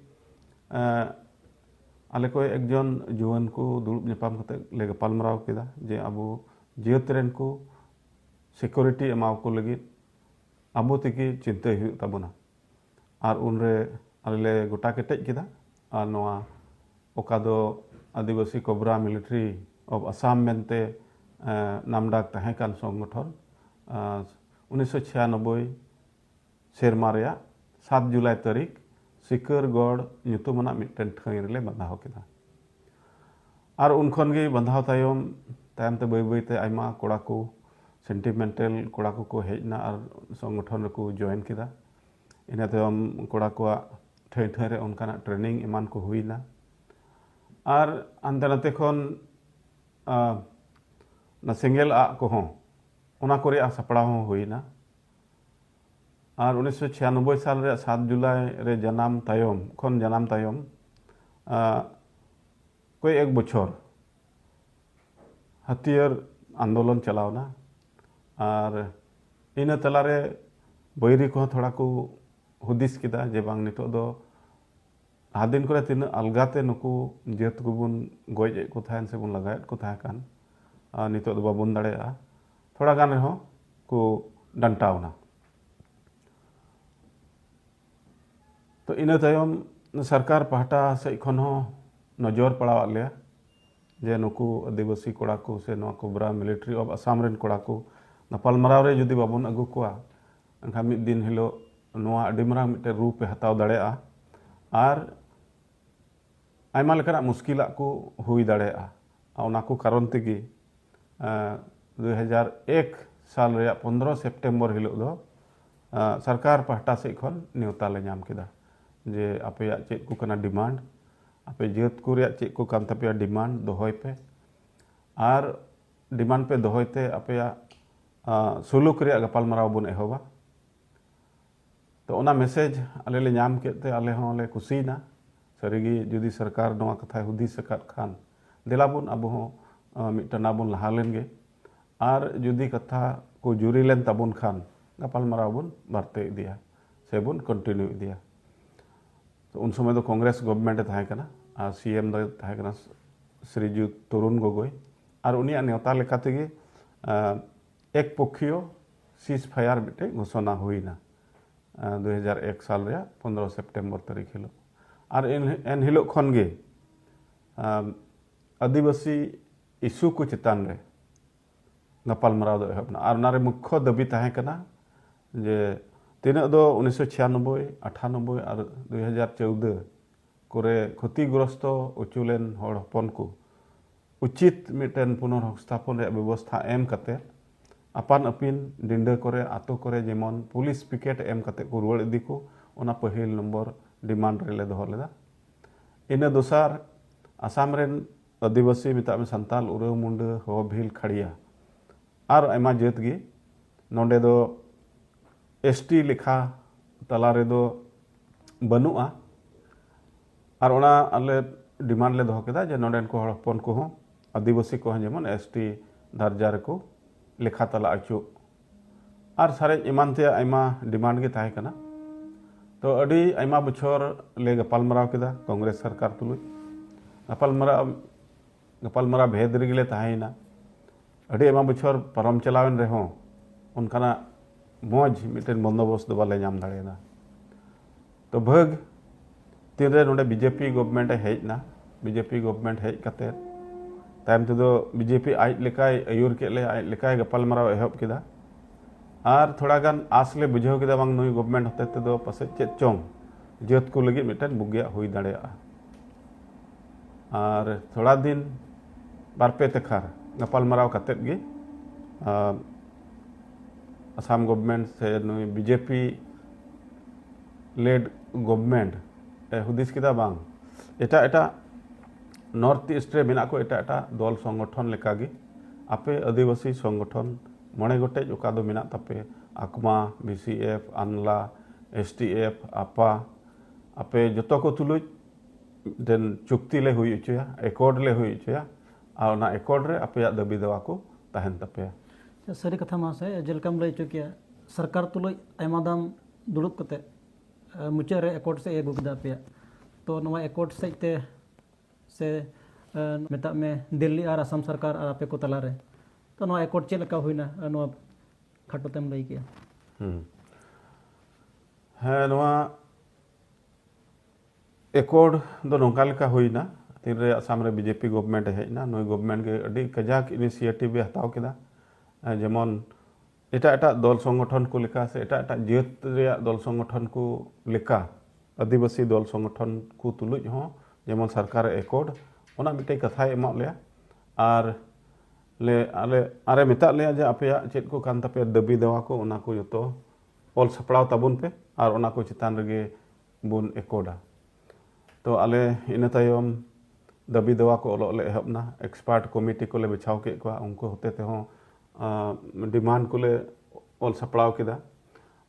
[SPEAKER 1] ᱟᱞᱮ ᱠᱚ ᱮᱠᱡᱚᱱ ᱡᱩᱣᱟᱹᱱ ᱠᱚ ᱫᱩᱲᱩᱵ ᱧᱟᱯᱟᱢ ᱠᱟᱛᱮ ᱞᱮ ᱜᱟᱯᱟᱞ ᱢᱟᱨᱟᱣ ᱠᱮᱫᱟ ᱡᱮ ᱟᱵᱚ ᱡᱟᱹᱛ ᱨᱮᱱ ᱠᱚ ᱥᱤᱠᱩᱨᱤᱴᱤ ᱮᱢᱟᱣ ᱠᱚ ᱞᱟᱹᱜᱤᱫ ᱟᱵᱚ ᱛᱮᱜᱮ ᱪᱤᱱᱛᱟᱹᱭ ᱦᱩᱭᱩᱜ ᱛᱟᱵᱚᱱᱟ ᱟᱨ ᱩᱱᱨᱮ ᱟᱞᱮ ᱞᱮ ᱜᱚᱴᱟ ᱠᱮᱴᱮᱡ ᱠᱮᱫᱟ ᱟᱨ ᱱᱚᱣᱟ ᱚᱠᱟ ᱫᱚ Adivasi Cobra Military of Assam ᱢᱮᱱᱛᱮ ᱱᱟᱢᱰᱟᱠ ᱛᱟᱦᱮᱸ ᱠᱟᱱ ᱥᱚᱝᱜᱚᱴᱷᱚᱱ ᱩᱱᱤᱥᱥᱚ ᱪᱷᱤᱭᱟᱱᱚᱵᱵᱳᱭ ᱥᱮᱨᱢᱟ ᱨᱮᱭᱟᱜ ᱥᱟᱛ ᱡᱩᱞᱟᱭ ᱛᱟᱹᱨᱤᱠᱷ ᱥᱤᱠᱟᱹᱨᱜᱚᱲ ᱧᱩᱛᱩᱢᱟᱱᱟᱜ ᱢᱤᱫᱴᱮᱱ ᱴᱷᱟᱹᱭ ᱨᱮᱞᱮ ᱵᱟᱸᱫᱷᱟᱣ ᱠᱮᱫᱟ ᱟᱨ ᱩᱱ ᱠᱷᱚᱱ ᱜᱮ ᱵᱟᱸᱫᱷᱟᱣ ᱛᱟᱭᱚᱢ ᱛᱟᱭᱚᱢ ᱛᱮ ᱵᱟᱹᱭ ᱵᱟᱹᱭ ᱛᱮ ᱟᱭᱢᱟ ᱠᱚᱲᱟ ᱠᱚ ᱥᱮᱱᱴᱤᱢᱮᱱᱴᱟᱞ ᱠᱚᱲᱟ ᱠᱚ ᱠᱚ ᱦᱮᱡ ᱮᱱᱟ ᱟᱨ ᱥᱚᱝᱜᱚᱴᱷᱚᱱ ᱨᱮᱠᱚ ᱡᱚᱭᱮᱱ ᱠᱮᱫᱟ ᱤᱱᱟᱹ ᱛᱟᱭᱚᱢ ᱠᱚᱲᱟ ᱠᱚᱣᱟᱜ ᱴᱷᱟᱹᱭ ᱴᱷᱟᱹᱭ ᱨᱮ ᱚᱱᱠᱟᱱᱟᱜ ᱴᱨᱮᱱᱤᱝ ᱮᱢᱟᱱ ᱠᱚ ᱦᱩᱭ ᱮᱱᱟ ᱟᱨ ᱦᱟᱱᱛᱮ ᱱᱟᱛᱮ ᱠᱷᱚᱱ ᱚᱱᱟ ᱥᱮᱸᱜᱮᱞ ᱟᱜ ᱠᱚᱦᱚᱸ ᱚᱱᱟ ᱠᱚ ᱨᱮᱭᱟᱜ ᱥᱟᱯᱲᱟᱣ ᱦᱚᱸ ᱦᱩᱭ ᱮᱱᱟ ᱟᱨ ᱩᱱᱤᱥᱥᱚ ᱪᱷᱤᱭᱟᱱᱚᱵᱵᱳᱭ ᱥᱟᱞ ᱨᱮᱭᱟᱜ ᱥᱟᱛ ᱡᱩᱞᱟᱭ ᱨᱮ ᱡᱟᱱᱟᱢ ᱛᱟᱭᱚᱢ ᱠᱷᱚᱱ ᱡᱟᱱᱟᱢ ᱛᱟᱭᱚᱢ ᱠᱚᱭ ᱮᱠ ᱵᱚᱪᱷᱚᱨ ᱦᱟᱹᱛᱤᱭᱟᱹᱨ ᱟᱱᱫᱳᱞᱚᱱ ᱪᱟᱞᱟᱣᱱᱟ ᱟᱨ ᱤᱱᱟᱹ ᱛᱟᱞᱟᱨᱮ ᱵᱟᱹᱭᱨᱤ ᱠᱚᱦᱚᱸ ᱛᱷᱚᱲᱟ ᱠᱚ ᱦᱩᱫᱤᱥ ᱠᱮᱫᱟ ᱡᱮ ᱵᱟᱝ ᱱᱤᱛᱚᱜ ᱫᱚ ᱞᱟᱦᱟ ᱫᱤᱱ ᱠᱚᱨᱮ ᱛᱤᱱᱟᱹᱜ ᱟᱞᱜᱟᱛᱮ ᱱᱩᱠᱩ ᱡᱟᱹᱛ ᱠᱚᱵᱚᱱ ᱜᱚᱡ ᱮᱫ ᱠᱚ ᱛᱟᱦᱮᱱ ᱥᱮᱵᱚᱱ ᱞᱟᱜᱟᱭᱮᱫ ᱠᱚ ᱛᱟᱦᱮᱸ ᱠᱟᱱ ᱟᱨ ᱱᱤᱛᱚᱜ ᱫᱚ ᱵᱟᱵᱚᱱ ᱫᱟᱲᱮᱭᱟᱜᱼᱟ ᱛᱷᱚᱲᱟ ᱜᱟᱱ ᱨᱮᱦᱚᱸ ᱠᱚ ᱰᱟᱱᱴᱟᱣᱱᱟ ᱛᱚ ᱤᱱᱟᱹ ᱛᱟᱭᱚᱢ ᱥᱚᱨᱠᱟᱨ ᱯᱟᱦᱴᱟ ᱥᱮᱫ ᱠᱷᱚᱱ ᱦᱚᱸ ᱱᱚᱡᱚᱨ ᱯᱟᱲᱟᱣᱟᱫ ᱞᱮᱭᱟ ᱡᱮ ᱱᱩᱠᱩ ᱟᱹᱫᱤᱵᱟᱹᱥᱤ ᱠᱚᱲᱟ ᱠᱚ ᱥᱮ ᱱᱚᱣᱟ ᱠᱳᱵᱨᱟ ᱢᱤᱞᱤᱴᱨᱤ ᱚᱯᱷ ᱟᱥᱟᱢ ᱨᱮᱱ ᱠᱚᱲᱟ ᱠᱚ ᱜᱟᱯᱟᱞᱢᱟᱨᱟᱣ ᱨᱮ ᱡᱩᱫᱤ ᱵᱟᱵᱚᱱ ᱟᱹᱜᱩ ᱠᱚᱣᱟ ᱮᱱᱠᱷᱟᱱ ᱢᱤᱫ ᱫᱤᱱ ᱦᱤᱞᱳᱜ ᱱᱚᱣᱟ ᱟᱹᱰᱤ ᱢᱟᱨᱟᱝ ᱢᱤᱫᱴᱮᱱ ᱨᱩᱯ ᱮ ᱦᱟᱛᱟᱣ ᱫᱟᱲᱮᱭᱟᱜᱼᱟ ᱟᱨ ᱟᱭᱢᱟ ᱞᱮᱠᱟᱱᱟᱜ ᱢᱩᱥᱠᱤᱞᱟᱜ ᱠᱚ ᱦᱩᱭ ᱫᱟᱲᱮᱭᱟᱜᱼᱟ ᱟᱨ ᱚᱱᱟ ᱠᱚ ᱠᱟᱨᱚᱱ ᱛᱮᱜᱮ ᱫᱩ ᱦᱟᱡᱟᱨ ᱮᱠ ᱥᱟᱞ ᱨᱮᱭᱟᱜ ᱯᱚᱱᱫᱽᱨᱚ ᱥᱮᱯᱴᱮᱢᱵᱚᱨ ᱦᱤᱞᱳᱜ ᱫᱚ ᱥᱚᱨᱠᱟᱨ ᱯᱟᱦᱴᱟ ᱥᱮᱫ ᱠᱷᱚᱱ ᱱᱮᱣᱛᱟ ᱞᱮ ᱧᱟᱢ ᱠᱮᱫᱟ ᱡᱮ ᱟᱯᱮᱭᱟᱜ ᱪᱮᱫ ᱠᱚ ᱠᱟᱱᱟ ᱰᱤᱢᱟᱱᱰ ᱟᱯᱮ ᱡᱟᱹᱛ ᱠᱚ ᱨᱮᱭᱟᱜ ᱪᱮᱫ ᱠᱚ ᱠᱟᱱ ᱛᱟᱯᱮᱭᱟ ᱰᱤᱢᱟᱱᱰ ᱫᱚᱦᱚᱭ ᱯᱮ ᱟᱨ ᱰᱤᱢᱟᱱᱰ ᱯᱮ ᱫᱚᱦᱚᱭ ᱛᱮ ᱟᱯᱮᱭᱟᱜ ᱥᱩᱞᱩᱠ ᱨᱮᱭᱟᱜ ᱜᱟᱯᱟᱞᱢᱟᱨᱟᱣ ᱵᱚᱱ ᱮᱦᱚᱵᱟ ᱛᱚ ᱚᱱᱟ ᱢᱮᱥᱮᱡᱽ ᱟᱞᱮ ᱞᱮ ᱧᱟᱢ ᱠᱮᱫ ᱛᱮ ᱟᱞᱮ ᱦᱚᱸ ᱞᱮ ᱠᱩᱥᱤᱭᱮᱱᱟ ᱥᱟᱹᱨᱤ ᱜᱮ ᱡᱩᱫᱤ ᱥᱚᱨᱠᱟᱨ ᱱᱚᱣᱟ ᱠᱟᱛᱷᱟᱭ ᱦᱩᱫᱤᱥ ᱟᱠᱟᱫ ᱠᱷᱟᱱ ᱫᱮᱞᱟ ᱵᱚᱱ ᱟᱵᱚ ᱦᱚᱸ ᱢᱤᱫ ᱴᱟᱱᱟ ᱵᱚᱱ ᱞᱟᱦᱟ ᱞᱮᱱ ᱜᱮ ᱟᱨ ᱡᱩᱫᱤ ᱠᱟᱛᱷᱟ ᱠᱚ ᱡᱩᱨᱤ ᱞᱮᱱ ᱛᱟᱵᱚᱱ ᱠᱷᱟᱱ ᱜᱟᱯᱟᱞ ᱢᱟᱨᱟᱣ ᱵᱚᱱ ᱵᱟᱨᱛᱮ ᱤᱫᱤᱭᱟ ᱥᱮ ᱵᱚᱱ ᱠᱚᱱᱴᱤᱱᱤᱭᱩ ᱤᱫᱤᱭᱟ ᱛᱚ ᱩᱱ ᱥᱚᱢᱚᱭ ᱫᱚ ᱠᱚᱝᱜᱨᱮᱥ ᱜᱚᱵᱷᱢᱮᱱᱴ ᱮ ᱛᱟᱦᱮᱸ ᱠᱟᱱᱟ ᱟᱨ ᱥᱤ ᱮᱢ ᱫᱚᱭ ᱛᱟᱦᱮᱸ ᱠᱟᱱᱟ ᱥᱨᱤᱡᱩᱛ ᱛᱚᱨᱩᱱ ᱜᱚᱜᱚᱭ ᱟᱨ ᱩᱱᱤᱭᱟᱜ ᱱᱮᱣᱛᱟ ᱞᱮᱠᱟ ᱛᱮᱜᱮ ᱮᱠ ᱯᱚᱠᱷᱤᱭᱚ ᱥᱤᱥ ᱯᱷᱟᱭᱟᱨ ᱢᱤᱫᱴᱮᱡ ᱜᱷᱳᱥᱚᱱᱟ ᱦᱩᱭᱱᱟ ᱫᱩ ᱦᱟᱡᱟᱨ ᱮᱠ ᱥᱟᱞ ᱨᱮᱭᱟᱜ ᱯᱚᱱᱨᱚ ᱥᱮᱯᱴᱮᱢᱵᱚᱨ ᱛᱟᱹᱨᱤᱠᱷ ᱦᱤᱞᱳᱜ ᱟᱨ ᱮᱱ ᱦᱤᱞᱳᱜ ᱠᱷᱚᱱ ᱜᱮ ᱟᱹᱫᱤᱵᱟᱹᱥᱤ ᱤᱥᱩ ᱠᱚ ᱪᱮᱛᱟᱱ ᱨᱮ ᱜᱟᱯᱟᱞᱢᱟᱨᱟᱣ ᱫᱚ ᱮᱦᱚᱵ ᱮᱱᱟ ᱟᱨ ᱚᱱᱟᱨᱮ ᱢᱩᱠᱷᱚ ᱫᱟᱹᱵᱤ ᱛᱟᱦᱮᱸ ᱠᱟᱱᱟ ᱡᱮ ᱛᱤᱱᱟᱹᱜ ᱫᱚ ᱩᱱᱤᱥᱥᱚ ᱪᱷᱤᱭᱟᱱᱚᱵᱵᱳᱭ ᱟᱴᱷᱟᱱᱚᱵᱵᱳᱭ ᱟᱨ ᱫᱩ ᱦᱟᱡᱟᱨ ᱪᱳᱣᱫᱟᱹ ᱠᱚᱨᱮ ᱠᱷᱚᱛᱤᱜᱨᱚᱥᱛᱚ ᱚᱪᱚ ᱞᱮᱱ ᱦᱚᱲ ᱦᱚᱯᱚᱱ ᱠᱚ ᱩᱪᱤᱛ ᱢᱤᱫᱴᱮᱱ ᱯᱩᱱᱚᱨ ᱦᱚᱠᱥᱛᱷᱟᱯᱚᱱ ᱨᱮᱭᱟᱜ ᱵᱮᱵᱚᱥᱛᱷᱟ ᱮᱢ ᱠᱟᱛᱮ ᱟᱯᱟᱱ ᱟᱹᱯᱤᱱ ᱰᱤᱸᱰᱟᱹ ᱠᱚᱨᱮ ᱟᱛᱳ ᱠᱚᱨᱮ ᱡᱮᱢᱚᱱ ᱯᱩᱞᱤᱥ ᱯᱤᱠᱮᱴ ᱮᱢ ᱠᱟᱛᱮ ᱠᱚ ᱨᱩᱣᱟᱹᱲ ᱤᱫᱤ ᱠᱚ ᱚᱱᱟ ᱯᱟᱹᱦᱤᱞ ᱱᱚᱢᱵᱚᱨ ᱰᱤᱢᱟᱱᱰ ᱨᱮᱞᱮ ᱫᱚᱦᱚ ᱞᱮᱫᱟ ᱤᱱᱟᱹ ᱫᱚᱥᱟᱨ ᱟᱥᱟᱢ ᱨᱮᱱ ᱟᱹᱫᱤᱵᱟᱹᱥᱤ ᱢᱮᱛᱟᱜ ᱢᱮ ᱥᱟᱱᱛᱟᱞ ᱩᱨᱟᱹᱣ ᱢᱩᱱᱰᱟᱹ ᱦᱚ ᱵᱷᱤᱞ ᱠᱷᱟᱲᱤᱭᱟ ᱟᱨ ᱟᱭᱢᱟ ᱡᱟᱹᱛ ᱜᱮ ᱱᱚᱰᱮ ᱫᱚ ᱮᱥ ᱴᱤ ᱞᱮᱠᱷᱟ ᱛᱟᱞᱟ ᱨᱮᱫᱚ ᱵᱟᱹᱱᱩᱜᱼᱟ ᱟᱨ ᱚᱱᱟ ᱟᱞᱮ ᱰᱤᱢᱟᱱᱰ ᱞᱮ ᱫᱚᱦᱚ ᱠᱮᱫᱟ ᱡᱮ ᱱᱚᱰᱮᱱ ᱠᱚ ᱦᱚᱲ ᱦᱚᱯᱚᱱ ᱠᱚᱦᱚᱸ ᱟᱹᱫᱤᱵᱟᱹᱥᱤ ᱠᱚᱦᱚᱸ ᱡᱮᱢᱚᱱ ᱮᱥ ᱴᱤ ᱫᱟᱨᱡᱟ ᱨᱮᱠᱚ ᱞᱮᱠᱷᱟ ᱛᱟᱞᱟ ᱚᱪᱚᱜ ᱟᱨ ᱥᱟᱨᱮᱡ ᱮᱢᱟᱱ ᱛᱮᱭᱟᱜ ᱟᱭᱢᱟ ᱰᱤᱢᱟᱱᱰ ᱜᱮ ᱛᱟᱦᱮᱸ ᱠᱟᱱᱟ ᱛᱚ ᱟᱹᱰᱤ ᱟᱭᱢᱟ ᱵᱚᱪᱷᱚᱨ ᱞᱮ ᱜᱟᱯᱟᱞᱢᱟᱨᱟᱣ ᱠᱮᱫᱟ ᱠᱚᱝᱜᱨᱮᱥ ᱥᱚᱨᱠᱟᱨ ᱛᱩᱞᱩᱡ ᱜᱟᱯᱟᱞᱢᱟᱨᱟᱣ ᱜᱟᱯᱟᱞᱢᱟᱨᱟᱣ ᱵᱷᱮᱫ ᱨᱮᱜᱮ ᱞᱮ ᱛᱟᱦᱮᱸᱭᱮᱱᱟ ᱟᱹᱰᱤ ᱟᱭᱢᱟ ᱵᱚᱪᱷᱚᱨ ᱯᱟᱨᱚᱢ ᱪᱟᱞᱟᱣᱮᱱ ᱨᱮᱦᱚᱸ ᱚᱱᱠᱟᱱᱟᱜ ᱢᱚᱡᱽ ᱢᱤᱫᱴᱮᱱ ᱵᱚᱱᱫᱳᱵᱚᱥᱛ ᱫᱚ ᱵᱟᱞᱮ ᱧᱟᱢ ᱫᱟᱲᱮᱭᱟᱫᱟ ᱛᱚ ᱵᱷᱟᱹᱜᱽ ᱛᱤᱱᱨᱮ ᱱᱚᱰᱮ ᱵᱤᱡᱮᱯᱤ ᱜᱚᱵᱷᱢᱮᱱᱴ ᱮ ᱦᱮᱡ ᱮᱱᱟ ᱵᱤᱡᱮᱯᱤ ᱜᱚᱵᱷᱢᱮᱱᱴ ᱦᱮᱡ ᱠᱟᱛᱮ ᱛᱟᱭᱚᱢ ᱛᱮᱫᱚ ᱵᱤᱡᱮᱯᱤ ᱟᱡ ᱞᱮᱠᱟᱭ ᱟᱹᱭᱩᱨ ᱠᱮᱫ ᱞᱮᱭᱟ ᱟᱡ ᱞᱮᱠᱟᱭ ᱜᱟᱯᱟᱞᱢᱟᱨᱟᱣ ᱮᱦᱚᱵ ᱠᱮᱫᱟ ᱟᱨ ᱛᱷᱚᱲᱟ ᱜᱟᱱ ᱟᱥ ᱞᱮ ᱵᱩᱡᱷᱟᱹᱣ ᱠᱮᱫᱟ ᱵᱟᱝ ᱱᱩᱭ ᱜᱚᱵᱷᱢᱮᱱᱴ ᱦᱚᱛᱮ ᱛᱮᱫᱚ ᱯᱟᱥᱮᱡ ᱪᱮᱫ ᱪᱚᱝ ᱡᱟᱹᱛ ᱠᱚ ᱞᱟᱹᱜᱤᱫ ᱢᱤᱫᱴᱮᱱ ᱵᱩᱜᱤᱭᱟᱜ ᱦᱩᱭ ᱫᱟᱲᱮᱭᱟᱜᱼᱟ ᱟᱨ ᱛᱷᱚᱲᱟ ᱫᱤᱱ ᱵᱟᱨᱯᱮ ᱛᱮᱠᱷᱟᱨ ᱜᱟᱯᱟᱞᱢᱟᱨᱟᱣ ᱠᱟᱛᱮᱫ ᱜᱮ ᱟᱥᱟᱢ ᱜᱚᱵᱷᱢᱮᱱᱴ ᱥᱮ ᱱᱩᱭ ᱵᱤᱡᱮᱯᱤ ᱞᱮᱰ ᱜᱚᱵᱷᱢᱮᱱᱴ ᱦᱩᱫᱤᱥ ᱠᱮᱫᱟ ᱵᱟᱝ ᱮᱴᱟᱜ ᱮᱴᱟᱜ ᱱᱚᱨᱛᱷ ᱤᱥᱴ ᱨᱮ ᱢᱮᱱᱟᱜ ᱠᱚ ᱮᱴᱟᱜ ᱮᱴᱟᱜ ᱫᱚᱞ ᱥᱚᱝᱜᱚᱴᱷᱚᱱ ᱞᱮᱠᱟᱜᱮ ᱟᱯᱮ ᱟᱹᱫᱤᱵᱟᱹᱥᱤ ᱥᱚᱝᱜᱚᱴᱷᱚᱱ ᱢᱚᱬᱮ ᱜᱚᱴᱮᱡ ᱚᱠᱟ ᱫᱚ ᱢᱮᱱᱟᱜ ᱛᱟᱯᱮ ᱟᱠᱢᱟ ᱵᱤ ᱥᱤ ᱮᱯᱷ ᱟᱱᱞᱟ ᱮᱥ ᱴᱤ ᱮᱯᱷ ᱟᱯᱟ ᱟᱯᱮ ᱡᱚᱛᱚ ᱠᱚ ᱛᱩᱞᱩᱡ ᱢᱤᱫᱴᱮᱱ ᱪᱩᱠᱛᱤ ᱞᱮ ᱦᱩᱭ ᱦᱚᱪᱚᱭᱟ ᱮᱠᱚᱨᱰ ᱞᱮ ᱦᱩᱭ ᱦᱚᱪᱚᱭᱟ ᱟᱨ ᱚᱱᱟ ᱮᱠᱚᱨᱰ ᱨᱮ ᱟᱯᱮᱭᱟᱜ ᱫᱟᱹᱵᱤ ᱫᱟᱣᱟ ᱠᱚ ᱛᱟᱦᱮᱱ ᱛᱟᱯᱮᱭᱟ ᱥᱟᱹᱨᱤ ᱠᱟᱛᱷᱟ ᱢᱟᱥᱮ ᱡᱮᱞᱮᱠᱟᱢ ᱞᱟᱹᱭ ᱦᱚᱪᱚ ᱠᱮᱭᱟ ᱥᱚᱨᱠᱟᱨ ᱛᱩᱞᱩᱡ ᱟᱭᱢᱟ ᱫᱟᱢ ᱫᱩᱲᱩᱵ ᱠᱟᱛᱮᱫ ᱢᱩᱪᱟᱹᱫ ᱨᱮ ᱮᱠᱚᱴ ᱥᱮᱫ ᱮ ᱟᱹᱜᱩ ᱠᱮᱫᱟ ᱟᱯᱮᱭᱟᱜ ᱛᱚ ᱱᱚᱣᱟ ᱮᱠᱚᱴ ᱥᱮᱫ ᱛᱮ ᱥᱮ ᱢᱮᱛᱟᱜ ᱢᱮ ᱫᱤᱞᱞᱤ ᱟᱨ ᱟᱥᱟᱢ ᱥᱚᱨᱠᱟᱨ ᱟᱨ ᱟᱯᱮ ᱠᱚ ᱛᱟᱞᱟᱨᱮ ᱛᱚ ᱱᱚᱣᱟ ᱮᱠᱚᱴ ᱪᱮᱫ ᱞᱮᱠᱟ ᱦᱩᱭᱱᱟ ᱱᱚᱣᱟ ᱠᱷᱟᱴᱚ ᱛᱮᱢ ᱞᱟᱹᱭ ᱠᱮᱜᱼᱟ ᱦᱮᱸ ᱱᱚᱣᱟ ᱮᱠᱚᱴ ᱫᱚ ᱱᱚᱝᱠᱟ ᱞᱮᱠᱟ ᱦᱩᱭᱱᱟ ᱛᱤᱱᱨᱮ ᱟᱥᱟᱢ ᱨᱮ ᱵᱤᱡᱮᱯᱤ ᱜᱚᱵᱷᱢᱮᱱᱴ ᱦᱮᱡ ᱮᱱᱟ ᱱᱩᱭ ᱜᱚᱵᱷᱢᱮᱱᱴ ᱜᱮ ᱟᱹᱰᱤ ᱠᱟᱡᱟᱠ ᱤᱱᱤᱥᱤᱭᱮᱴᱤᱵᱷ ᱮ ᱦᱟᱛᱟᱣ ᱠᱮᱫᱟ ᱡᱮᱢᱚᱱ ᱮᱴᱟᱜ ᱮᱴᱟᱜ ᱫᱚᱞ ᱥᱚᱝᱜᱚᱴᱷᱚᱱ ᱠᱚ ᱞᱮᱠᱟ ᱥᱮ ᱮᱴᱟᱜ ᱮᱴᱟᱜ ᱡᱟᱹᱛ ᱨᱮᱭᱟᱜ ᱫᱚᱞ ᱥᱚᱝᱜᱚᱴᱷᱚᱱ ᱠᱚ ᱞᱮᱠᱟ ᱟᱹᱫᱤᱵᱟᱹᱥᱤ ᱫᱚᱞ ᱥᱚᱝᱜᱚᱴᱷᱚᱱ ᱠᱚ ᱛᱩᱞᱩᱡ ᱦᱚᱸ ᱡᱮᱢᱚᱱ ᱥᱚᱨᱠᱟᱨ ᱮᱠᱚᱨᱰ ᱚᱱᱟ ᱢᱤᱫᱴᱮᱱ ᱠᱟᱛᱷᱟᱭ ᱮᱢᱟᱫ ᱞᱮᱭᱟ ᱟᱨ ᱞᱮ ᱟᱞᱮ ᱟᱨᱮ ᱢᱮᱛᱟᱫ ᱞᱮᱭᱟ ᱡᱮ ᱟᱯᱮᱭᱟᱜ ᱪᱮᱫ ᱠᱚ ᱠᱟᱱ ᱛᱟᱯᱮᱭᱟ ᱫᱟᱹᱵᱤ ᱫᱟᱣᱟ ᱠᱚ ᱚᱱᱟ ᱠᱚ ᱡᱚᱛᱚ ᱚᱞ ᱥᱟᱯᱲᱟᱣ ᱛᱟᱵᱚᱱ ᱯᱮ ᱟᱨ ᱚᱱᱟ ᱠᱚ ᱪᱮᱛᱟᱱ ᱨᱮᱜᱮ ᱵᱚᱱ ᱮᱠᱚᱨᱰᱟ ᱛᱚ ᱟᱞᱮ ᱤᱱᱟᱹ ᱛᱟᱭᱚᱢ ᱫᱟᱹᱵᱤ ᱫᱮᱣᱟ ᱠᱚ ᱚᱞᱚᱜ ᱞᱮ ᱮᱦᱚᱵ ᱮᱱᱟ ᱮᱠᱥᱯᱟᱨᱴ ᱠᱚᱢᱤᱴᱤ ᱠᱚᱞᱮ ᱵᱮᱪᱷᱟᱣ ᱠᱮᱫ ᱠᱚᱣᱟ ᱩᱱᱠᱩ ᱦᱚᱛᱮ ᱛᱮᱦᱚᱸ ᱰᱤᱢᱟᱱᱰ ᱠᱚᱞᱮ ᱚᱞ ᱥᱟᱯᱲᱟᱣ ᱠᱮᱫᱟ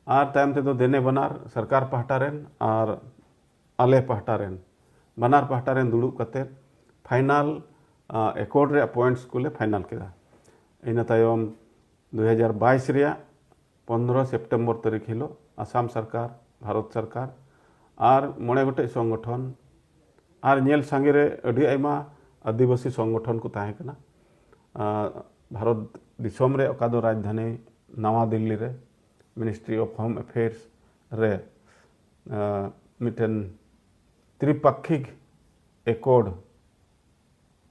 [SPEAKER 1] ᱟᱨ ᱛᱟᱭᱚᱢ ᱛᱮᱫᱚ ᱫᱮᱱᱮ ᱵᱟᱱᱟᱨ ᱥᱚᱨᱠᱟᱨ ᱯᱟᱦᱴᱟ ᱨᱮᱱ ᱟᱨ ᱟᱞᱮ ᱯᱟᱦᱴᱟ ᱨᱮᱱ ᱵᱟᱱᱟᱨ ᱯᱟᱦᱴᱟ ᱨᱮᱱ ᱫᱩᱲᱩᱵ ᱠᱟᱛᱮ ᱯᱷᱟᱭᱱᱟᱞ ᱮᱠᱚᱨᱰ ᱨᱮᱭᱟᱜ ᱯᱚᱭᱮᱱᱴᱥ ᱠᱚᱞᱮ ᱯᱷᱟᱭᱱᱟᱞ ᱠᱮᱫᱟ ᱤᱱᱟᱹ ᱛᱟᱭᱚᱢ ᱫᱩ ᱦᱟᱡᱟᱨ ᱵᱟᱭᱤᱥ ᱨᱮᱭᱟᱜ ᱯᱚᱱᱫᱽᱨᱚ ᱥᱮᱯᱴᱮᱢᱵᱚᱨ ᱛᱟᱹᱨᱤᱠᱷ ᱦᱤᱞᱳᱜ ᱟᱥᱟᱢ ᱥᱚᱨᱠᱟᱨ ᱵᱷᱟᱨᱚᱛ ᱥᱚᱨᱠᱟᱨ ᱟᱨ ᱢᱚᱬᱮ ᱜᱚᱴᱮᱡ ᱥᱚᱝᱜᱚᱴᱷᱚᱱ ᱟᱨ ᱧᱮᱞ ᱥᱟᱸᱜᱮ ᱨᱮ ᱟᱹᱰᱤ ᱟᱭᱢᱟ ᱟᱹᱫᱤᱵᱟᱹᱥᱤ ᱥᱚᱝᱜᱚᱴᱷᱚᱱ ᱠᱚ ᱛᱟᱦᱮᱸ ᱠᱟᱱᱟ ᱵᱷᱟᱨᱚᱛ ᱫᱤᱥᱚᱢ ᱨᱮ ᱚᱠᱟ ᱫᱚ ᱨᱟᱡᱽᱫᱷᱟᱱᱤ ᱱᱟᱣᱟ ᱫᱤᱞᱞᱤ ᱨᱮ ᱢᱤᱱᱤᱥᱴᱨᱤ ᱚᱯᱷ ᱦᱳᱢ ᱮᱯᱷᱮᱭᱟᱨᱥ ᱨᱮ ᱢᱤᱫᱴᱮᱱ ᱛᱨᱤᱯᱟᱠᱠᱷᱤᱠ ᱮᱠᱚᱨᱰ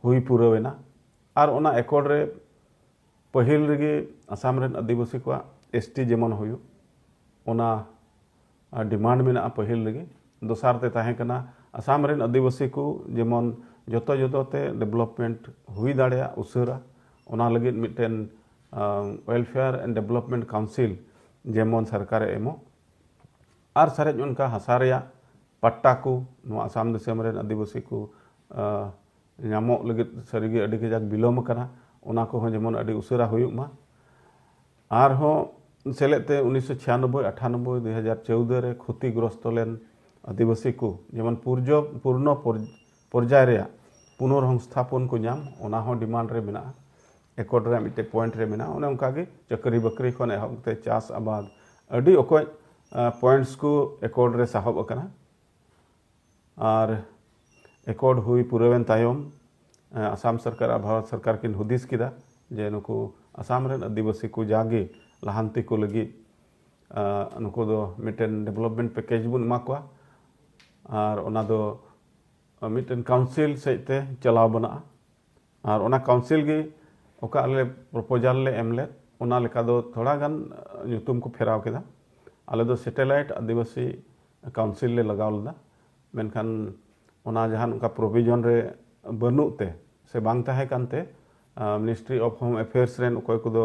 [SPEAKER 1] ᱦᱩᱭ ᱯᱩᱨᱟᱹᱣᱮᱱᱟ ᱟᱨ ᱚᱱᱟ ᱮᱠᱚᱨᱰ ᱨᱮ ᱯᱟᱹᱦᱤᱞ ᱨᱮᱜᱮ ᱟᱥᱟᱢ ᱨᱮᱱ ᱟᱹᱫᱤᱵᱟᱹᱥᱤ ᱠᱚᱣᱟᱜ ᱮᱥ ᱴᱤ ᱡᱮᱢᱚᱱ ᱦᱩᱭᱩᱜ ᱚᱱᱟ ᱰᱤᱢᱟᱱᱰ ᱢᱮᱱᱟᱜᱼᱟ ᱯᱟᱹᱦᱤᱞ ᱨᱮᱜᱮ ᱫᱚᱥᱟᱨ ᱛᱮ ᱛᱟᱦᱮᱸ ᱠᱟᱱᱟ ᱟᱥᱟᱢ ᱨᱮᱱ ᱟᱹᱫᱤᱵᱟᱹᱥᱤ ᱠᱚ ᱡᱮᱢᱚᱱ ᱡᱚᱛᱚ ᱡᱚᱛᱚ ᱛᱮ ᱰᱮᱵᱷᱞᱚᱯᱢᱮᱱᱴ ᱦᱩᱭ ᱫᱟᱲᱮᱭᱟᱜ ᱩᱥᱟᱹᱨᱟ ᱚᱱᱟ ᱞᱟᱹᱜᱤᱫ ᱢᱤᱫᱴᱮᱱ ᱳᱭᱮᱞᱯᱷᱮᱭᱟᱨ ᱮᱱᱰ ᱰᱮᱵᱷᱞᱚᱯᱢᱮᱱᱴ ᱠᱟᱣᱩᱱᱥᱤᱞ ᱡᱮᱢᱚᱱ ᱥᱚᱨᱠᱟᱨᱮ ᱮᱢᱚᱜ ᱟᱨ ᱥᱟᱨᱮᱡ ᱚᱱᱠᱟ ᱦᱟᱥᱟ ᱨᱮᱭᱟᱜ ᱯᱟᱴᱴᱟ ᱠᱚ ᱱᱚᱣᱟ ᱟᱥᱟᱢ ᱫᱤᱥᱚᱢ ᱨᱮᱱ ᱟᱹᱫᱤᱵᱟᱹᱥᱤ ᱠᱚ ᱧᱟᱢᱚᱜ ᱞᱟᱹᱜᱤᱫ ᱥᱟᱹᱨᱤ ᱜᱮ ᱟᱹᱰᱤ ᱠᱟᱡᱟᱠ ᱵᱤᱞᱚᱢ ᱟᱠᱟᱱᱟ ᱚᱱᱟ ᱠᱚᱦᱚᱸ ᱡᱮᱢᱚᱱ ᱟᱹᱰᱤ ᱩᱥᱟᱹᱨᱟ ᱦᱩᱭᱩᱜ ᱢᱟ ᱟᱨᱦᱚᱸ ᱥᱮᱞᱮᱫ ᱛᱮ ᱩᱱᱤᱥᱥᱚ ᱪᱷᱤᱭᱟᱱᱚᱵᱽᱵᱳᱭ ᱟᱴᱷᱟᱱᱚᱵᱽᱵᱳᱭ ᱫᱩ ᱦᱟᱡᱟᱨ ᱪᱳᱣᱫᱚ ᱨᱮ ᱠᱷᱚᱛᱤ ᱜᱨᱚᱥᱛᱚ ᱞᱮᱱ ᱟᱹᱫᱤᱵᱟᱹᱥᱤ ᱠᱚ ᱡᱮᱢᱚᱱ ᱯᱩᱨᱡᱚ ᱯᱩᱨᱱᱚ ᱯᱚᱨᱡᱟᱭ ᱨᱮᱭᱟᱜ ᱯᱩᱱᱚᱨ ᱦᱚᱝᱥᱛᱷᱟᱯᱚᱱ ᱠᱚ ᱧᱟᱢ ᱚᱱᱟ ᱦᱚᱸ ᱰᱤᱢᱟᱱᱰ ᱨᱮ ᱢᱮᱱᱟᱜᱼᱟ ᱮᱠᱚᱨᱰ ᱨᱮᱭᱟᱜ ᱢᱤᱫᱴᱮᱡ ᱯᱚᱭᱮᱱᱴ ᱨᱮ ᱢᱮᱱᱟᱜᱼᱟ ᱚᱱᱮ ᱚᱱᱠᱟ ᱜᱮ ᱪᱟᱹᱠᱨᱤ ᱵᱟᱹᱠᱨᱤ ᱠᱷᱚᱱ ᱮᱦᱚᱵ ᱠᱟᱛᱮ ᱪᱟᱥ ᱟᱵᱟᱫ ᱟᱹᱰᱤ ᱚᱠᱚᱡ ᱯᱚᱭᱮᱱᱴᱥ ᱠᱚ ᱮᱠᱚᱨᱰ ᱨᱮ ᱥᱟᱦᱚᱵ ᱟᱠᱟᱱᱟ ᱟᱨ ᱮᱠᱚᱨᱰ ᱦᱩᱭ ᱯᱩᱨᱟᱹᱣᱮᱱ ᱛᱟᱭᱚᱢ ᱟᱥᱟᱢ ᱥᱚᱨᱠᱟᱨ ᱟᱨ ᱵᱷᱟᱨᱚᱛ ᱥᱚᱨᱠᱟᱨ ᱠᱤᱱ ᱦᱩᱫᱤᱥ ᱠᱮᱫᱟ ᱡᱮ ᱱᱩᱠᱩ ᱟᱥᱟᱢ ᱨᱮᱱ ᱟᱹᱫᱤᱵᱟᱹᱥᱤ ᱠᱚ ᱡᱟᱜᱮ ᱞᱟᱦᱟᱱᱛᱤ ᱠᱚ ᱞᱟᱹᱜᱤᱫ ᱱᱩᱠᱩ ᱫᱚ ᱢᱤᱫᱴᱮᱱ ᱰᱮᱵᱷᱞᱚᱯᱢᱮᱱᱴ ᱯᱮᱠᱮᱡᱽ ᱵᱚᱱ ᱮᱢᱟ ᱠᱚᱣᱟ ᱟᱨ ᱚᱱᱟ ᱫᱚ ᱢᱤᱫᱴᱮᱱ ᱠᱟᱣᱩᱱᱥᱤᱞ ᱥᱮᱫ ᱛᱮ ᱪᱟᱞᱟᱣ ᱵᱟᱱᱟᱜᱼᱟ ᱟᱨ ᱚᱱᱟ ᱠᱟᱣᱩᱱᱥᱤᱞ ᱜᱮ ᱚᱠᱟ ᱟᱞᱮ ᱯᱨᱚᱯᱳᱡᱟᱞ ᱞᱮ ᱮᱢ ᱞᱮᱫ ᱚᱱᱟ ᱞᱮᱠᱟ ᱫᱚ ᱛᱷᱚᱲᱟ ᱜᱟᱱ ᱧᱩᱛᱩᱢ ᱠᱚ ᱯᱷᱮᱨᱟᱣ ᱠᱮᱫᱟ ᱟᱞᱮ ᱫᱚ ᱥᱮᱴᱮᱞᱟᱭᱤᱴ ᱟᱹᱫᱤᱵᱟᱹᱥᱤ ᱠᱟᱣᱩᱱᱥᱤᱞ ᱞᱮ ᱞᱟᱜᱟᱣ ᱞᱮᱫᱟ ᱢᱮᱱᱠᱷᱟᱱ ᱚᱱᱟ ᱡᱟᱦᱟᱱ ᱚᱱᱠᱟ ᱯᱨᱚᱵᱷᱤᱡᱚᱱ ᱨᱮ ᱵᱟᱹᱱᱩᱜ ᱛᱮ ᱥᱮ ᱵᱟᱝ ᱛᱟᱦᱮᱸ ᱠᱟᱱᱛᱮ ᱢᱤᱱᱤᱥᱴᱨᱤ ᱚᱯᱷ ᱦᱳᱢ ᱮᱯᱷᱮᱭᱟᱨᱥ ᱨᱮᱱ ᱚᱠᱚᱭ ᱠᱚᱫᱚ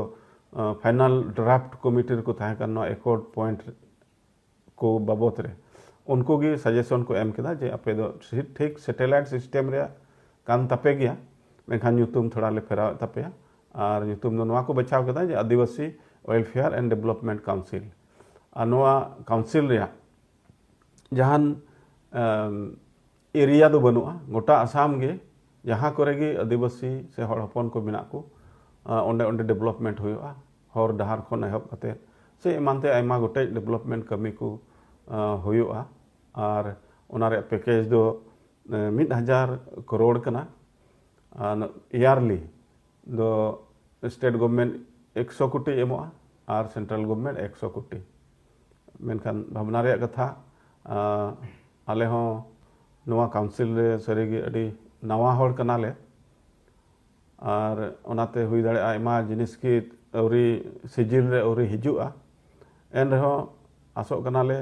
[SPEAKER 1] ᱯᱷᱟᱭᱱᱟᱞ ᱰᱨᱟᱯᱷᱴ ᱠᱚᱢᱤᱴᱤ ᱨᱮᱠᱚ ᱛᱟᱦᱮᱸ ᱠᱟᱱ ᱱᱚᱣᱟ ᱮᱠᱚᱨᱰ ᱯᱚᱭᱮᱱᱴ ᱠᱚ ᱵᱟᱵᱚᱛ ᱨᱮ ᱩᱱᱠᱩ ᱜᱮ ᱥᱟᱡᱮᱥᱚᱱ ᱠᱚ ᱮᱢ ᱠᱮᱫᱟ ᱡᱮ ᱟᱯᱮ ᱫᱚ ᱴᱷᱤᱠ ᱥᱮᱴᱮᱞᱟᱭᱤᱴ ᱥᱤᱥᱴᱮᱢ ᱨᱮᱭᱟᱜ ᱠᱟᱱ ᱛᱟᱯᱮ ᱜᱮᱭᱟ ᱢᱮᱱᱠᱷᱟᱱ ᱧᱩᱛᱩᱢ ᱛᱷᱚᱲᱟ ᱞᱮ ᱯᱷᱮᱨᱟᱣᱮᱫ ᱛᱟᱯᱮᱭᱟ ᱟᱨ ᱧᱩᱛᱩᱢ ᱫᱚ ᱱᱚᱣᱟ ᱠᱚ ᱵᱟᱪᱷᱟᱣ ᱠᱮᱫᱟ ᱡᱮ Adivasi welfare and development council ᱟᱨ ᱱᱚᱣᱟ ᱠᱟᱣᱩᱱᱥᱤᱞ ᱨᱮᱭᱟᱜ ᱡᱟᱦᱟᱱ ᱮᱨᱤᱭᱟ ᱫᱚ ᱵᱟᱹᱱᱩᱜᱼᱟ ᱜᱚᱴᱟ ᱟᱥᱟᱢ ᱜᱮ ᱡᱟᱦᱟᱸ ᱠᱚᱨᱮ ᱜᱮ ᱟᱹᱫᱤᱵᱟᱹᱥᱤ ᱥᱮ ᱦᱚᱲ ᱦᱚᱯᱚᱱ ᱠᱚ ᱢᱮᱱᱟᱜ ᱠᱚ ᱚᱸᱰᱮ ᱚᱸᱰᱮ ᱰᱮᱵᱷᱞᱚᱯᱢᱮᱱᱴ ᱦᱩᱭᱩᱜᱼᱟ ᱦᱚᱨ ᱰᱟᱦᱟᱨ ᱠᱷᱚᱱ ᱮᱦᱚᱵ ᱠᱟᱛᱮ ᱥᱮ ᱮᱢᱟᱱ ᱛᱮ ᱟᱭᱢᱟ ᱜᱚᱴᱮᱡ ᱰᱮᱵᱷᱞᱚᱯᱢᱮᱱᱴ ᱠᱟᱹᱢᱤ ᱠᱚ ᱦᱩᱭᱩᱜᱼᱟ ᱟᱨ ᱚᱱᱟ ᱨᱮᱭᱟᱜ ᱯᱮᱠᱮᱡᱽ ᱫᱚ ᱢᱤᱫ ᱦᱟᱡᱟᱨ ᱠᱨᱳᱲ ᱠᱟᱱᱟ ᱟᱨ ᱤᱭᱟᱨᱞᱤ ᱫᱚ ᱥᱴᱮᱴ ᱜᱚᱵᱷᱢᱮᱱᱴ ᱮᱠᱥᱚ ᱠᱳᱴᱤ ᱮᱢᱚᱜᱼᱟ ᱟᱨ ᱥᱮᱱᱴᱨᱟᱞ ᱜᱚᱵᱷᱢᱮᱱᱴ ᱮᱠᱥᱚ ᱠᱳᱴᱤ ᱢᱮᱱᱠᱷᱟᱱ ᱵᱷᱟᱵᱽᱱᱟ ᱨᱮᱭᱟᱜ ᱠᱟᱛᱷᱟ ᱟᱞᱮ ᱦᱚᱸ ᱱᱚᱣᱟ ᱠᱟᱣᱩᱱᱥᱤᱞ ᱨᱮ ᱥᱟᱹᱨᱤ ᱜᱮ ᱟᱹᱰᱤ ᱱᱟᱣᱟ ᱦᱚᱲ ᱠᱟᱱᱟ ᱞᱮ ᱟᱨ ᱚᱱᱟ ᱛᱮ ᱦᱩᱭ ᱫᱟᱲᱮᱭᱟᱜᱼᱟ ᱟᱭᱢᱟ ᱡᱤᱱᱤᱥ ᱜᱮ ᱟᱹᱣᱨᱤ ᱥᱤᱡᱤᱞ ᱨᱮ ᱟᱹᱣᱨᱤ ᱦᱤᱡᱩᱜᱼᱟ ᱮᱱ ᱨᱮᱦᱚᱸ ᱟᱥᱚᱜ ᱠᱟᱱᱟ ᱞᱮ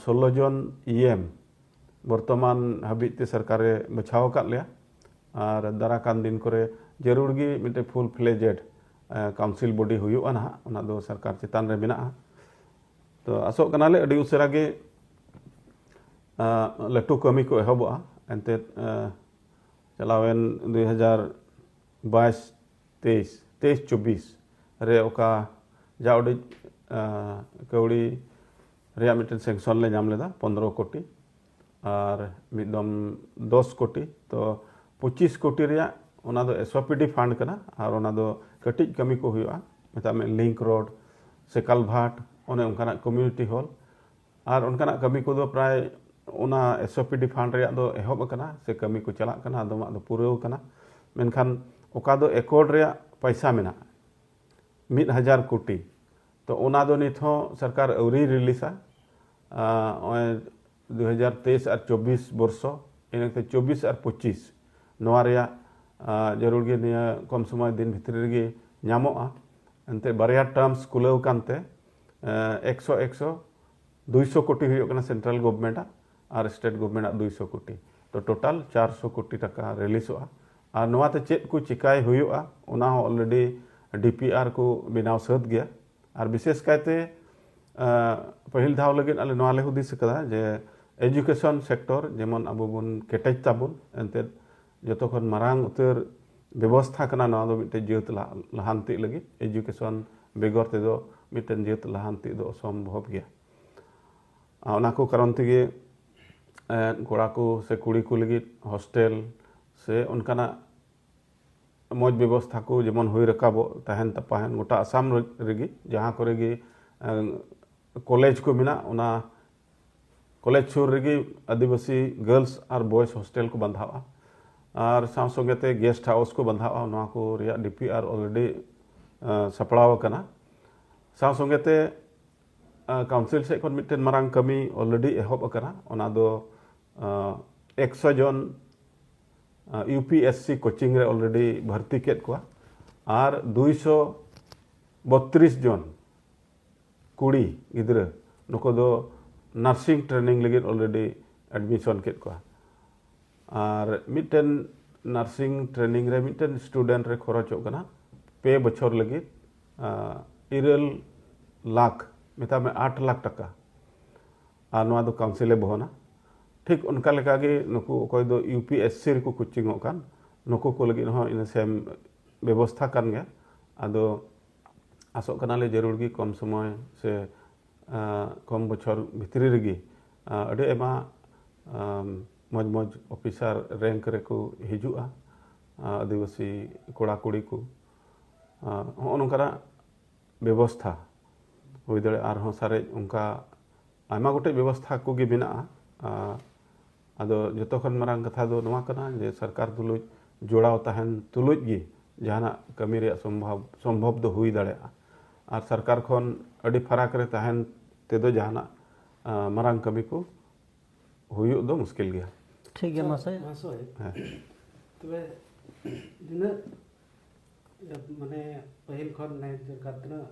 [SPEAKER 1] ᱥᱳᱞᱞᱳ ᱡᱚᱱ ᱤ ᱮᱢ ᱵᱚᱨᱛᱚᱢᱟᱱ ᱦᱟᱹᱵᱤᱡ ᱛᱮ ᱥᱚᱨᱠᱟᱨ ᱮ ᱵᱟᱪᱷᱟᱣ ᱟᱠᱟᱫ ᱞᱮᱭᱟ ᱟᱨ ᱫᱟᱨᱟᱭ ᱠᱟᱱ ᱫᱤᱱ ᱠᱚᱨᱮ ᱡᱟᱹᱨᱩᱲ ᱜᱮ ᱢᱤᱫᱴᱮᱱ ᱯᱷᱩᱞ ᱯᱷᱞᱮᱡᱮᱰ ᱠᱟᱣᱩᱱᱥᱤᱞ ᱵᱚᱰᱤ ᱦᱩᱭᱩᱜᱼᱟ ᱱᱟᱦᱟᱜ ᱚᱱᱟ ᱫᱚ ᱥᱚᱨᱠᱟᱨ ᱪᱮᱛᱟᱱ ᱨᱮ ᱢᱮᱱᱟᱜᱼᱟ ᱛᱚ ᱟᱥᱚᱜ ᱠᱟᱱᱟᱞᱮ ᱟᱹᱰᱤ ᱩᱥᱟᱹᱨᱟ ᱜᱮ ᱞᱟᱹᱴᱩ ᱠᱟᱹᱢᱤ ᱠᱚ ᱮᱦᱚᱵᱚᱜᱼᱟ ᱮᱱᱛᱮᱫ ᱪᱟᱞᱟᱣᱮᱱ ᱫᱩᱭ ᱦᱟᱡᱟᱨ ᱵᱟᱭᱤᱥ ᱛᱮᱭᱤᱥ ᱛᱮᱭᱤᱥ ᱪᱚᱵᱵᱤᱥ ᱨᱮ ᱚᱠᱟ ᱡᱟ ᱩᱰᱤᱡ ᱠᱟᱹᱣᱰᱤ ᱨᱮᱭᱟᱜ ᱢᱤᱫᱴᱮᱱ ᱥᱮᱝᱥᱚᱱ ᱞᱮ ᱧᱟᱢ ᱞᱮᱫᱟ ᱯᱚᱱᱨᱚ ᱠᱳᱴᱤ ᱟᱨ ᱢᱤᱫ ᱫᱚᱢ ᱫᱚᱥ ᱠᱳᱴᱤ ᱛᱚ ᱯᱚᱸᱪᱤᱥ ᱠᱳᱴᱤ ᱨᱮᱭᱟᱜ ᱚᱱᱟ ᱫᱚ ᱮᱥᱳᱯᱤᱰᱤ ᱯᱷᱟᱱᱰ ᱠᱟᱱᱟ ᱟᱨ ᱚᱱᱟ ᱫᱚ ᱠᱟᱹᱴᱤᱡ ᱠᱟᱹᱢᱤ ᱠᱚ ᱦᱩᱭᱩᱜᱼᱟ ᱢᱮᱛᱟᱜ ᱢᱮ ᱞᱤᱝᱠ ᱨᱳᱰ ᱥᱮ ᱠᱟᱞᱵᱷᱟᱴ ᱚᱱᱮ ᱚᱱᱠᱟᱱᱟᱜ ᱠᱚᱢᱤᱭᱩᱱᱤᱴᱤ ᱦᱚᱞ ᱟᱨ ᱚᱱᱠᱟᱱᱟᱜ ᱠᱟᱹᱢᱤ ᱠᱚᱫᱚ ᱯᱨᱟᱭ ᱚᱱᱟ ᱮᱥᱳᱯᱤᱰᱤ ᱯᱷᱟᱱᱰ ᱨᱮᱭᱟᱜ ᱫᱚ ᱮᱦᱚᱵ ᱟᱠᱟᱱᱟ ᱥᱮ ᱠᱟᱹᱢᱤ ᱠᱚ ᱪᱟᱞᱟᱜ ᱠᱟᱱᱟ ᱟᱫᱚᱢᱟᱜ ᱫᱚ ᱯᱩᱨᱟᱹᱣ ᱟᱠᱟᱱᱟ ᱢᱮᱱᱠᱷᱟᱱ ᱚᱠᱟ ᱫᱚ ᱮᱠᱚᱨ ᱨᱮᱭᱟᱜ ᱯᱚᱭᱥᱟ ᱢᱮᱱᱟᱜᱼᱟ ᱢᱤᱫ ᱦᱟᱡᱟᱨ ᱠᱳᱴᱤ ᱛᱚ ᱚᱱᱟ ᱫᱚ ᱱᱤᱛ ᱦᱚᱸ ᱥᱚᱨᱠᱟᱨ ᱟᱹᱣᱨᱤᱭ ᱨᱤᱞᱤᱡᱟ ᱱᱚᱜᱼᱚᱭ ᱫᱩ ᱦᱟᱡᱟᱨ ᱛᱮᱭᱤᱥ ᱟᱨ ᱪᱚᱵᱽᱵᱤᱥ ᱵᱚᱨᱥᱚ ᱤᱱᱟᱹᱛᱮ ᱪᱚᱵᱽᱵᱤᱥ ᱟᱨ ᱯᱚᱸᱪᱤᱥ ᱱᱚᱣᱟ ᱨᱮᱭᱟᱜ ᱡᱟᱹᱨᱩᱲ ᱜᱮ ᱱᱤᱭᱟᱹ ᱠᱚᱢ ᱥᱚᱢᱚᱭ ᱫᱤᱱ ᱵᱷᱤᱛᱨᱤ ᱨᱮᱜᱮ ᱧᱟᱢᱚᱜᱼᱟ ᱮᱱᱛᱮᱫ ᱵᱟᱨᱭᱟ ᱴᱟᱨᱢᱥ ᱠᱩᱞᱟᱹᱣ ᱟᱠᱟᱱᱛᱮ ᱮᱠᱥᱚ ᱮᱠᱥᱚ ᱫᱩᱭᱥᱚ ᱠᱳᱴᱤ ᱦᱩᱭᱩᱜ ᱠᱟᱱᱟ ᱥᱮᱱᱴᱨᱟᱞ ᱜᱚᱵᱷᱚᱨᱢᱮᱱᱴ ᱟᱜ ᱟᱨ ᱥᱴᱮᱴ ᱜᱚᱵᱷᱚᱨᱢᱮᱱᱴ ᱟᱜ ᱫᱩᱭᱥᱚ ᱠᱳᱴᱤ ᱛᱚ ᱴᱳᱴᱟᱞ ᱪᱟᱨᱥᱚ ᱠᱳᱴᱤ ᱴᱟᱠᱟ ᱨᱤᱞᱤᱥᱚᱜᱼᱟ ᱟᱨ ᱱᱚᱣᱟᱛᱮ ᱪᱮᱫ ᱠᱚ ᱪᱤᱠᱟᱹᱭ ᱦᱩᱭᱩᱜᱼᱟ ᱚᱱᱟ ᱦᱚᱸ ᱚᱞᱨᱮᱰᱤ ᱰᱤ ᱯᱤ ᱟᱨ ᱠᱚ ᱵᱮᱱᱟᱣ ᱥᱟᱹᱛ ᱜᱮᱭᱟ ᱟᱨ ᱵᱤᱥᱮᱥ ᱠᱟᱭᱛᱮ ᱯᱟᱹᱦᱤᱞ ᱫᱷᱟᱣ ᱞᱟᱹᱜᱤᱫ ᱟᱞᱮ ᱱᱚᱣᱟ ᱞᱮ ᱦᱩᱫᱤᱥ ᱟᱠᱟᱫᱟ ᱡᱮ ᱮᱡᱩᱠᱮᱥᱚᱱ ᱥᱮᱠᱴᱚᱨ ᱡᱮᱢᱚᱱ ᱟᱵᱚ ᱵᱚᱱ ᱠᱮᱴᱮᱡ ᱛᱟᱵᱚᱱ ᱮᱱᱛᱮᱫ ᱡᱚᱛᱚ ᱠᱷᱚᱱ ᱢᱟᱨᱟᱝ ᱩᱛᱟᱹᱨ ᱵᱮᱵᱚᱥᱛᱷᱟ ᱠᱟᱱᱟ ᱱᱚᱣᱟ ᱫᱚ ᱢᱤᱫᱴᱮᱱ ᱡᱟᱹᱛ ᱞᱟᱦᱟᱱᱛᱤ ᱞᱟᱹᱜᱤᱫ ᱮᱡᱩᱠᱮᱥᱚᱱ ᱵᱮᱜᱚᱨ ᱛᱮᱫᱚ ᱢᱤᱫᱴᱮᱱ ᱡᱟᱹᱛ ᱞᱟᱦᱟᱱᱛᱤ ᱫᱚ ᱚᱥᱚᱢᱵᱷᱚᱵ ᱜᱮᱭᱟ ᱚᱱᱟ ᱠᱚ ᱠᱟᱨᱚᱱ ᱛᱮᱜᱮ ᱠᱚᱲᱟ ᱠᱚ ᱥᱮ ᱠᱩᱲᱤ ᱠᱚ ᱞᱟᱹᱜᱤᱫ ᱦᱳᱥᱴᱮᱞ ᱥᱮ ᱚᱱᱠᱟᱱᱟᱜ ᱢᱚᱡᱽ ᱵᱮᱵᱚᱥᱛᱷᱟ ᱠᱚ ᱡᱮᱢᱚᱱ ᱦᱩᱭ ᱨᱟᱠᱟᱵᱚᱜ ᱛᱟᱦᱮᱱ ᱛᱟᱯᱟᱦᱮᱱ ᱜᱚᱴᱟ ᱟᱥᱟᱢ ᱨᱮᱜᱮ ᱡᱟᱦᱟᱸ ᱠᱚᱨᱮ ᱜᱮ ᱠᱚᱞᱮᱡᱽ ᱠᱚ ᱢᱮᱱᱟᱜ ᱚᱱᱟ ᱠᱚᱞᱮᱡᱽ ᱥᱩᱨ ᱨᱮᱜᱮ ᱟᱹᱫᱤᱵᱟᱹᱥᱤ ᱜᱟᱨᱞᱥ ᱟᱨ ᱵᱚᱭᱮᱥ ᱦᱳᱥᱴᱮᱞ ᱠᱚ ᱵᱟᱸᱫᱷᱟᱣᱼᱟ ᱟᱨ ᱥᱟᱶ ᱥᱚᱸᱜᱮ ᱛᱮ ᱜᱮᱥᱴ ᱦᱟᱣᱩᱥ ᱠᱚ ᱵᱟᱸᱫᱷᱟᱣᱼᱟ ᱱᱚᱣᱟ ᱠᱚ ᱨᱮᱭᱟᱜ ᱰᱤ ᱯᱤ ᱟᱨ ᱚᱞᱨᱮᱰᱤ ᱥᱟᱯᱲᱟᱣ ᱟᱠᱟᱱᱟ ᱥᱟᱶ ᱥᱚᱸᱜᱮ ᱛᱮ ᱠᱟᱣᱩᱱᱥᱤᱞ ᱥᱮᱫ ᱠᱷᱚᱱ ᱢᱤᱫᱴᱮᱱ ᱢᱟᱨᱟᱝ ᱠᱟᱹᱢᱤ ᱚᱞᱨᱮᱰᱤ ᱮᱦᱚᱵ ᱟᱠᱟᱱᱟ ᱚᱱᱟ ᱫᱚ ᱮᱠᱥᱚ ᱡᱚᱱ U P S C coaching ᱨᱮ ᱚᱞᱨᱮᱰᱤ ᱵᱷᱟᱨᱛᱤ ᱠᱮᱫ ᱠᱚᱣᱟ ᱟᱨ ᱫᱩᱭᱥᱚ ᱵᱚᱛᱨᱤᱥ ᱡᱚᱱ ᱠᱩᱲᱤ ᱜᱤᱫᱽᱨᱟᱹ ᱱᱩᱠᱩ ᱫᱚ ᱱᱟᱨᱥᱤᱝ ᱴᱨᱮᱱᱤᱝ ᱞᱟᱹᱜᱤᱫ ᱚᱞᱨᱮᱰᱤ ᱮᱰᱢᱤᱥᱚᱱ ᱠᱮᱫ ᱠᱚᱣᱟ ᱟᱨ ᱢᱤᱫᱴᱮᱱ ᱱᱟᱨᱥᱤᱝ ᱴᱨᱮᱱᱤᱝ ᱨᱮ ᱢᱤᱫᱴᱮᱱ ᱥᱴᱩᱰᱮᱱᱴ ᱨᱮ ᱠᱷᱚᱨᱚᱪᱚᱜ ᱠᱟᱱᱟ ᱯᱮ ᱵᱚᱪᱷᱚᱨ ᱞᱟᱹᱜᱤᱫ ᱤᱨᱟᱹᱞ ᱞᱟᱠᱷ ᱢᱮᱛᱟᱜ ᱢᱮ ᱟᱴ ᱞᱟᱠᱷ ᱴᱟᱠᱟ ᱟᱨ ᱱᱚᱣᱟ ᱫᱚ ᱠᱟᱣᱩᱱᱥᱤᱞᱮ ᱵᱚᱦᱚᱱᱟ ᱴᱷᱤᱠ ᱚᱱᱠᱟ ᱞᱮᱠᱟᱜᱮ ᱱᱩᱠᱩ ᱚᱠᱚᱭ ᱫᱚ ᱤᱭᱩ ᱯᱤ ᱮᱥ ᱥᱤ ᱨᱮᱠᱚ ᱠᱳᱪᱤᱝᱚᱜ ᱠᱟᱱ ᱱᱩᱠᱩ ᱠᱚ ᱞᱟᱹᱜᱤᱫ ᱦᱚᱸ ᱤᱱᱟᱹ ᱥᱮᱢ ᱵᱮᱵᱚᱥᱛᱷᱟ ᱠᱟᱱ ᱜᱮᱭᱟ ᱟᱫᱚ ᱟᱥᱚᱜ ᱠᱟᱱᱟᱞᱮ ᱡᱟᱹᱨᱩᱲ ᱜᱮ ᱠᱚᱢ ᱥᱚᱢᱚᱭ ᱥᱮ ᱠᱚᱢ ᱵᱚᱪᱷᱚᱨ ᱵᱷᱤᱛᱨᱤ ᱨᱮᱜᱮ ᱟᱹᱰᱤ ᱟᱭᱢᱟ ᱢᱚᱡᱽ ᱢᱚᱡᱽ ᱚᱯᱷᱤᱥᱟᱨ ᱨᱮᱝᱠ ᱨᱮᱠᱚ ᱦᱤᱡᱩᱜᱼᱟ ᱟᱹᱫᱤᱵᱟᱹᱥᱤ ᱠᱚᱲᱟ ᱠᱩᱲᱤ ᱠᱚ ᱦᱚᱸᱜᱼᱚ ᱱᱚᱝᱠᱟᱱᱟᱜ ᱵᱮᱵᱚᱥᱛᱷᱟ ᱦᱩᱭ ᱫᱟᱲᱮᱭᱟᱜᱼᱟ ᱟᱨᱦᱚᱸ ᱥᱟᱨᱮᱡ ᱚᱱᱠᱟ ᱟᱭᱢᱟ ᱜᱚᱴᱮᱡ ᱵᱮᱵᱚᱥᱛᱷᱟ ᱠᱚᱜᱮ ᱢᱮᱱᱟᱜᱼᱟ ᱟᱫᱚ ᱡᱚᱛᱚ ᱠᱷᱚᱱ ᱢᱟᱨᱟᱝ ᱠᱟᱛᱷᱟ ᱫᱚ ᱱᱚᱣᱟ ᱠᱟᱱᱟ ᱡᱮ ᱥᱚᱨᱠᱟᱨ ᱛᱩᱞᱩᱡ ᱡᱚᱲᱟᱣ ᱛᱟᱦᱮᱱ ᱛᱩᱞᱩᱡ ᱜᱮ ᱡᱟᱦᱟᱱᱟᱜ ᱠᱟᱹᱢᱤ ᱨᱮᱭᱟᱜ ᱥᱚᱢᱵᱷᱚᱵ ᱥᱚᱢᱵᱷᱚᱵ ᱫᱚ ᱦᱩᱭ ᱫᱟᱲᱮᱭᱟᱜᱼᱟ ᱟᱨ ᱥᱚᱨᱠᱟᱨ ᱠᱷᱚᱱ ᱟᱹᱰᱤ ᱯᱷᱟᱨᱟᱠ ᱨᱮ ᱛᱟᱦᱮᱱ ᱛᱮᱫᱚ ᱡᱟᱦᱟᱱᱟᱜ ᱢᱟᱨᱟᱝ ᱠᱟᱹᱢᱤ ᱠᱚ ᱦᱩᱭᱩᱜ ᱫᱚ ᱢᱩᱥᱠᱤᱞ ᱜᱮᱭᱟ ᱴᱷᱤᱠ ᱜᱮᱭᱟ ᱢᱟᱥᱮ ᱦᱮᱸ ᱛᱚᱵᱮ ᱱᱤᱱᱟᱹᱜ ᱢᱟᱱᱮ ᱯᱟᱹᱦᱤᱞ ᱠᱷᱚᱱ ᱢᱟᱱᱮ ᱪᱮᱫᱠᱟ ᱛᱤᱱᱟᱹᱜ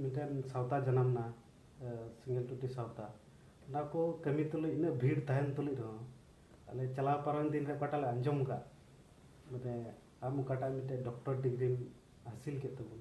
[SPEAKER 1] ᱢᱤᱫᱴᱮᱱ ᱥᱟᱶᱛᱟ ᱡᱟᱱᱟᱢ ᱮᱱᱟ ᱥᱤᱸᱜᱮᱞ ᱴᱩᱴᱤ ᱥᱟᱶᱛᱟ ᱚᱱᱟ ᱠᱚ ᱠᱟᱹᱢᱤ ᱛᱩᱞᱩᱡ ᱤᱱᱟᱹᱜ ᱵᱷᱤᱲ ᱛᱟᱦᱮᱱ ᱛᱩᱞᱩᱡ ᱨᱮᱦᱚᱸ ᱟᱞᱮ ᱪᱟᱞᱟᱣ ᱯᱟᱨᱚᱢ ᱫᱤᱱ ᱨᱮ ᱚᱠᱟᱴᱟᱜ ᱞᱮ ᱟᱸᱡᱚᱢ ᱟᱠᱟᱫ ᱢᱟᱱᱮ ᱟᱢ ᱚᱠᱟᱴᱟᱜ ᱢᱤᱫᱴᱮᱱ ᱰᱚᱠᱴᱚᱨ ᱰᱤᱜᱽᱨᱤᱢ ᱦᱟᱹᱥᱤᱞ ᱠᱮᱫ ᱛᱟᱵᱚᱱ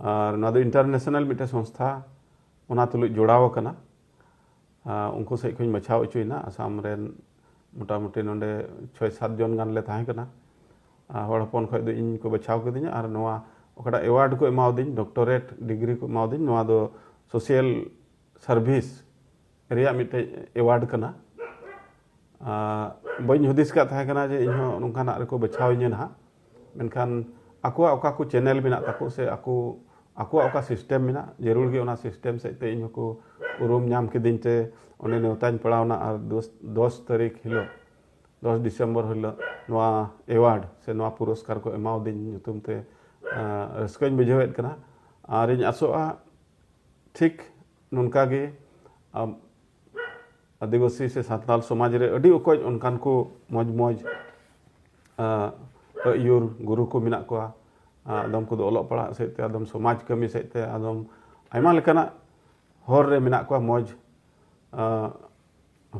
[SPEAKER 1] ᱟᱨ ᱱᱚᱣᱟ ᱫᱚ ᱤᱱᱴᱟᱨᱱᱮᱥᱱᱟᱞ ᱢᱤᱫᱴᱮᱱ ᱥᱚᱝᱥᱛᱷᱟ ᱚᱱᱟ ᱛᱩᱞᱩᱡ ᱡᱚᱲᱟᱣ ᱟᱠᱟᱱᱟ ᱩᱱᱠᱩ ᱥᱮᱫ ᱠᱷᱚᱱ ᱵᱟᱪᱷᱟᱣ ᱚᱪᱚᱭᱮᱱᱟ ᱟᱥᱟᱢ ᱨᱮᱱ ᱢᱚᱴᱟᱢᱩᱴᱤ ᱱᱚᱰᱮ ᱪᱷᱚᱭ ᱥᱟᱛ ᱡᱚᱱ ᱜᱟᱱ ᱞᱮ ᱛᱟᱦᱮᱸ ᱠᱟᱱᱟ ᱦᱚᱲ ᱦᱚᱯᱚᱱ ᱠᱷᱚᱱ ᱫᱚ ᱤᱧ ᱠᱚ ᱵᱟᱪᱷᱟᱣ ᱠᱤᱫᱤᱧᱟ ᱟᱨ ᱱᱚᱣᱟ ᱚᱠᱟᱴᱟᱜ ᱮᱣᱟᱨᱰ ᱠᱚ ᱮᱢᱟᱣᱫᱤᱧ ᱰᱚᱠᱴᱚᱨᱮᱴ ᱰᱤᱜᱽᱨᱤ ᱠᱚ ᱮᱢᱟᱣᱫᱤᱧ ᱱᱚᱣᱟ ᱫᱚ ᱥᱳᱥᱤᱭᱟᱞ ᱥᱟᱨᱵᱷᱤᱥ ᱨᱮᱭᱟᱜ ᱢᱤᱫᱴᱮᱡ ᱮᱣᱟᱨᱰ ᱠᱟᱱᱟ ᱵᱟᱹᱧ ᱦᱩᱫᱤᱥ ᱠᱟᱜ ᱛᱟᱦᱮᱸ ᱠᱟᱱᱟ ᱡᱮ ᱤᱧᱦᱚᱸ ᱱᱚᱝᱠᱟᱱᱟᱜ ᱨᱮᱠᱚ ᱵᱟᱪᱷᱟᱣ ᱤᱧᱟᱹ ᱱᱟᱦᱟᱜ ᱢᱮᱱᱠᱷᱟᱱ ᱟᱠᱚᱣᱟᱜ ᱚᱠᱟ ᱠᱚ ᱪᱮᱱᱮᱞ ᱢᱮᱱᱟᱜ ᱛᱟᱠᱚ ᱥᱮ ᱟᱠᱚ ᱟᱠᱚᱣᱟᱜ ᱚᱠᱟ ᱥᱤᱥᱴᱮᱢ ᱢᱮᱱᱟᱜ ᱡᱟᱹᱨᱩᱲ ᱜᱮ ᱚᱱᱟ ᱥᱤᱥᱴᱮᱢ ᱥᱮᱫ ᱛᱮ ᱤᱧ ᱦᱚᱸᱠᱚ ᱩᱨᱩᱢ ᱧᱟᱢ ᱠᱤᱫᱤᱧ ᱛᱮ ᱚᱸᱰᱮ ᱱᱮᱣᱛᱟᱧ ᱯᱟᱲᱟᱣᱱᱟ ᱟᱨ ᱫᱚᱥ ᱫᱚᱥ ᱛᱟᱹᱨᱤᱠᱷ ᱦᱤᱞᱳᱜ ᱫᱚᱥ ᱰᱤᱥᱮᱢᱵᱚᱨ ᱦᱤᱞᱳᱜ ᱱᱚᱣᱟ ᱮᱣᱟᱨᱰ ᱥᱮ ᱱᱚᱣᱟ ᱯᱩᱨᱚᱥᱠᱟᱨ ᱠᱚ ᱮᱢᱟᱣᱫᱤᱧ ᱧᱩᱛᱩᱢ ᱛᱮ ᱨᱟᱹᱥᱠᱟᱹᱧ ᱵᱩᱡᱷᱟᱹᱣᱮᱫ ᱠᱟᱱᱟ ᱟᱨᱤᱧ ᱟᱥᱚᱜᱼᱟ ᱴᱷᱤᱠ ᱱᱚᱝᱠᱟ ᱜᱮ ᱟᱹᱫᱤᱵᱟᱹᱥᱤ ᱥᱮ ᱥᱟᱱᱛᱟᱞ ᱥᱚᱢᱟᱡᱽ ᱨᱮ ᱟᱹᱰᱤ ᱚᱠᱚᱡ ᱚᱱᱠᱟᱱ ᱠᱚ ᱢᱚᱡᱽ ᱢᱚᱡᱽ ᱟᱹᱭᱩᱨ ᱜᱩᱨᱩ ᱠᱚ ᱢᱮᱱᱟᱜ ᱠᱚᱣᱟ ᱟᱫᱚᱢ ᱠᱚᱫᱚ ᱚᱞᱚᱜ ᱯᱟᱲᱦᱟᱜ ᱥᱮᱫ ᱛᱮ ᱟᱫᱚᱢ ᱥᱚᱢᱟᱡᱽ ᱠᱟᱹᱢᱤ ᱥᱮᱫ ᱛᱮ ᱟᱫᱚᱢ ᱟᱭᱢᱟ ᱞᱮᱠᱟᱱᱟᱜ ᱦᱚᱨ ᱨᱮ ᱢᱮᱱᱟᱜ ᱠᱚᱣᱟ ᱢᱚᱡᱽ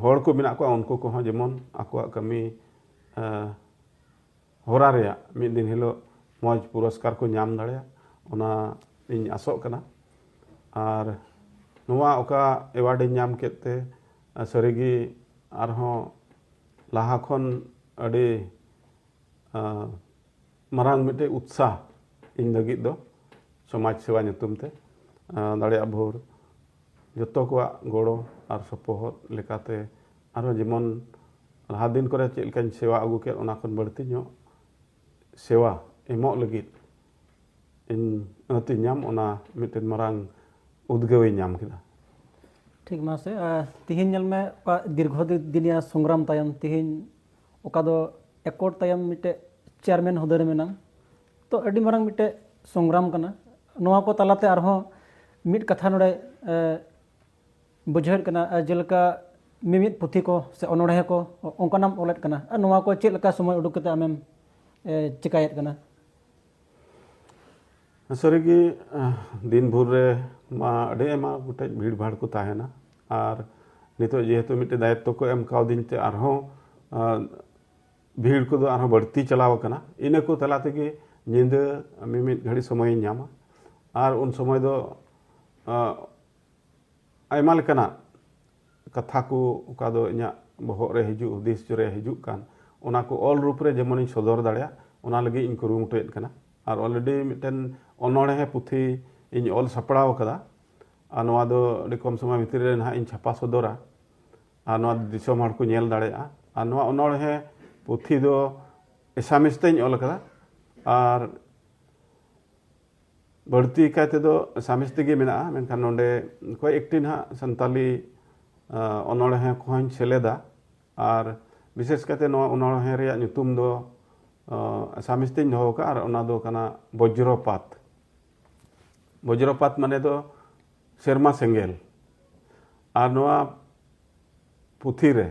[SPEAKER 1] ᱦᱚᱲ ᱠᱚ ᱢᱮᱱᱟᱜ ᱠᱚᱣᱟ ᱩᱱᱠᱩ ᱠᱚᱦᱚᱸ ᱡᱮᱢᱚᱱ ᱟᱠᱚᱣᱟᱜ ᱠᱟᱹᱢᱤ ᱦᱚᱨᱟ ᱨᱮᱭᱟᱜ ᱢᱤᱫ ᱫᱤᱱ ᱦᱤᱞᱳᱜ ᱢᱚᱡᱽ ᱯᱩᱨᱚᱥᱠᱟᱨ ᱠᱚ ᱧᱟᱢ ᱫᱟᱲᱮᱭᱟᱜ ᱚᱱᱟ ᱤᱧ ᱟᱥᱚᱜ ᱠᱟᱱᱟ ᱟᱨ ᱱᱚᱣᱟ ᱚᱠᱟ ᱮᱣᱟᱨᱰ ᱤᱧ ᱧᱟᱢ ᱠᱮᱫ ᱛᱮ ᱥᱟᱹᱨᱤᱜᱮ ᱟᱨᱦᱚᱸ ᱞᱟᱦᱟ ᱠᱷᱚᱱ ᱟᱹᱰᱤ ᱢᱟᱨᱟᱝ ᱢᱤᱫᱴᱮᱡ ᱩᱛᱥᱟᱦ ᱤᱧ ᱞᱟᱹᱜᱤᱫ ᱫᱚ ᱥᱚᱢᱟᱡᱽ ᱥᱮᱵᱟ ᱧᱩᱛᱩᱢ ᱛᱮ ᱫᱟᱲᱮᱭᱟᱜ ᱵᱷᱳᱨ ᱡᱚᱛᱚ ᱠᱚᱣᱟᱜ ᱜᱚᱲᱚ ᱟᱨ ᱥᱚᱯᱚᱦᱚᱫ ᱞᱮᱠᱟᱛᱮ ᱟᱨᱦᱚᱸ ᱡᱮᱢᱚᱱ ᱞᱟᱦᱟ ᱫᱤᱱ ᱠᱚᱨᱮ ᱪᱮᱫ ᱞᱮᱠᱟᱧ ᱥᱮᱵᱟ ᱟᱹᱜᱩ ᱠᱮᱫ ᱚᱱᱟ ᱠᱷᱚᱱ ᱵᱟᱹᱲᱛᱤ ᱧᱚᱜ ᱥᱮᱵᱟ ᱮᱢᱚᱜ ᱞᱟᱹᱜᱤᱫ ᱤᱧ ᱟᱹᱛ ᱤᱧ ᱧᱟᱢ ᱚᱱᱟ ᱢᱤᱫᱴᱮᱱ ᱢᱟᱨᱟᱝ ᱩᱫᱽᱜᱟᱹᱣ ᱤᱧ ᱧᱟᱢ ᱠᱮᱫᱟ ᱴᱷᱤᱠ ᱢᱟᱥᱮ ᱛᱤᱦᱤᱧ ᱧᱮᱞ ᱢᱮ ᱚᱠᱟ ᱫᱤᱨᱜᱷᱚ ᱫᱤᱱᱤᱭᱟ ᱥᱚᱝᱜᱨᱟᱢ ᱛᱟᱭᱚᱢ ᱛᱤᱦᱤᱧ ᱚᱠᱟ ᱫᱚ ᱮᱠᱚᱴ ᱛᱟᱭᱚᱢ ᱢᱤᱫᱴᱮᱡ ᱪᱮᱭᱟᱨᱢᱮᱱ ᱦᱩᱫᱟᱹ ᱨᱮ ᱢᱮᱱᱟᱢ ᱛᱚ ᱟᱹᱰᱤ ᱢᱟᱨᱟᱝ ᱢᱤᱫᱴᱮᱡ ᱥᱚᱝᱜᱨᱟᱢ ᱠᱟᱱᱟ ᱱᱚᱣᱟ ᱠᱚ ᱛᱟᱞᱟᱛᱮ ᱟᱨᱦᱚᱸ ᱢᱤᱫ ᱠᱟᱛᱷᱟ ᱱᱚᱰᱮ ᱵᱩᱡᱷᱟᱹᱣᱮᱫ ᱠᱟᱱᱟ ᱡᱮᱞᱮᱠᱟ ᱢᱤᱢᱤᱫ ᱯᱩᱛᱷᱤ ᱠᱚ ᱥᱮ ᱚᱱᱚᱬᱦᱮ ᱠᱚ ᱚᱱᱠᱟᱱᱟᱜ ᱮᱢ ᱚᱞᱮᱫ ᱠᱟᱱᱟ ᱟᱨ ᱱᱚᱣᱟ ᱠᱚ ᱪᱮᱫ ᱞᱮᱠᱟ ᱥᱚᱢᱚᱭ ᱩᱰᱩᱠ ᱠᱟᱛᱮ ᱟᱢᱮᱢ ᱪᱮᱠᱟᱭᱮᱫ ᱠᱟᱱᱟ ᱥᱟᱹᱨᱤᱜᱮ ᱫᱤᱱ ᱵᱷᱳᱨ ᱨᱮ ᱢᱟ ᱟᱹᱰᱤ ᱟᱭᱢᱟ ᱜᱚᱴᱮᱡ ᱵᱷᱤᱲ ᱵᱷᱟᱲ ᱠᱚ ᱛᱟᱦᱮᱱᱟ ᱟᱨ ᱱᱤᱛᱚᱜ ᱡᱮᱦᱮᱛᱩ ᱢᱤᱫᱴᱮᱱ ᱫᱟᱭᱤᱛᱛᱚ ᱠᱚ ᱮᱢ ᱠᱟᱣᱫᱤᱧ ᱛᱮ ᱟᱨᱦᱚᱸ ᱵᱷᱤᱲ ᱠᱚᱫᱚ ᱟᱨᱦᱚᱸ ᱵᱟᱹᱲᱛᱤ ᱪᱟᱞᱟᱣ ᱟᱠᱟᱱᱟ ᱤᱱᱟᱹ ᱠᱚ ᱛᱟᱞᱟ ᱛᱮᱜᱮ ᱧᱤᱫᱟᱹ ᱢᱤᱢᱤᱫ ᱜᱷᱟᱹᱲᱤᱡ ᱥᱚᱢᱚᱭᱤᱧ ᱧᱟᱢᱟ ᱟᱨ ᱩᱱ ᱥᱚᱢᱚᱭ ᱫᱚ ᱟᱭᱢᱟ ᱞᱮᱠᱟᱱᱟᱜ ᱠᱟᱛᱷᱟ ᱠᱚ ᱚᱠᱟ ᱫᱚ ᱤᱧᱟᱹᱜ ᱵᱚᱦᱚᱜ ᱨᱮ ᱦᱤᱡᱩᱜ ᱦᱩᱫᱤᱥ ᱨᱮ ᱦᱤᱡᱩᱜ ᱠᱟᱱ ᱚᱱᱟ ᱠᱚ ᱚᱞ ᱨᱩᱯ ᱨᱮ ᱡᱮᱢᱚᱱᱤᱧ ᱥᱚᱫᱚᱨ ᱫᱟᱲᱮᱭᱟᱜ ᱚᱱᱟ ᱞᱟᱹᱜᱤᱫ ᱤᱧ ᱠᱩᱨᱩᱢᱩᱴᱩᱭᱮᱫ ᱠᱟᱱᱟ ᱟᱨ ᱚᱞᱨᱮᱰᱤ ᱢᱤᱫᱴᱮᱱ ᱚᱱᱚᱬᱦᱮ ᱯᱩᱛᱷᱤ ᱤᱧ ᱚᱞ ᱥᱟᱯᱲᱟᱣ ᱟᱠᱟᱫᱟ ᱟᱨ ᱱᱚᱣᱟ ᱫᱚ ᱟᱹᱰᱤ ᱠᱚᱢ ᱥᱚᱢᱚᱭ ᱵᱷᱤᱛᱨᱤ ᱨᱮ ᱱᱟᱦᱟᱜ ᱤᱧ ᱪᱷᱟᱯᱟ ᱥᱚᱫᱚᱨᱟ ᱟᱨ ᱱᱚᱣᱟ ᱫᱤᱥᱚᱢ ᱦᱚᱲ ᱠᱚ ᱧᱮᱞ ᱫᱟᱲᱮᱭᱟᱜᱼᱟ ᱟᱨ ᱱᱚᱣᱟ ᱚᱱᱚᱬᱦᱮ ᱯᱩᱛᱷᱤ ᱫᱚ ᱮᱥᱟᱢᱤᱥ ᱛᱮᱧ ᱚᱞ ᱟᱠᱟᱫᱟ ᱟᱨ ᱵᱟᱹᱲᱛᱤ ᱠᱟᱭ ᱛᱮᱫᱚ ᱥᱟᱢᱤᱥ ᱛᱮᱜᱮ ᱢᱮᱱᱟᱜᱼᱟ ᱢᱮᱱᱠᱷᱟᱱ ᱱᱚᱰᱮ ᱠᱚᱭᱮᱠ ᱮᱠᱴᱤ ᱱᱟᱦᱟᱜ ᱥᱟᱱᱛᱟᱞᱤ ᱚᱱᱚᱬᱦᱮ ᱠᱚᱦᱚᱧ ᱥᱮᱞᱮᱫᱟ ᱟᱨ ᱵᱤᱥᱮᱥ ᱠᱟᱭᱛᱮ ᱱᱚᱣᱟ ᱚᱱᱚᱬᱦᱮ ᱨᱮᱭᱟᱜ ᱧᱩᱛᱩᱢ ᱫᱚ ᱥᱟᱢᱤᱥ ᱛᱮᱧ ᱫᱚᱦᱚ ᱟᱠᱟᱫᱼᱟ ᱟᱨ ᱚᱱᱟ ᱫᱚ ᱠᱟᱱᱟ ᱵᱚᱡᱽᱨᱚᱯᱟᱛ ᱵᱚᱡᱽᱨᱚᱯᱟᱛ ᱢᱟᱱᱮ ᱫᱚ ᱥᱮᱨᱢᱟ ᱥᱮᱸᱜᱮᱞ ᱟᱨ ᱱᱚᱣᱟ ᱯᱩᱛᱷᱤ ᱨᱮ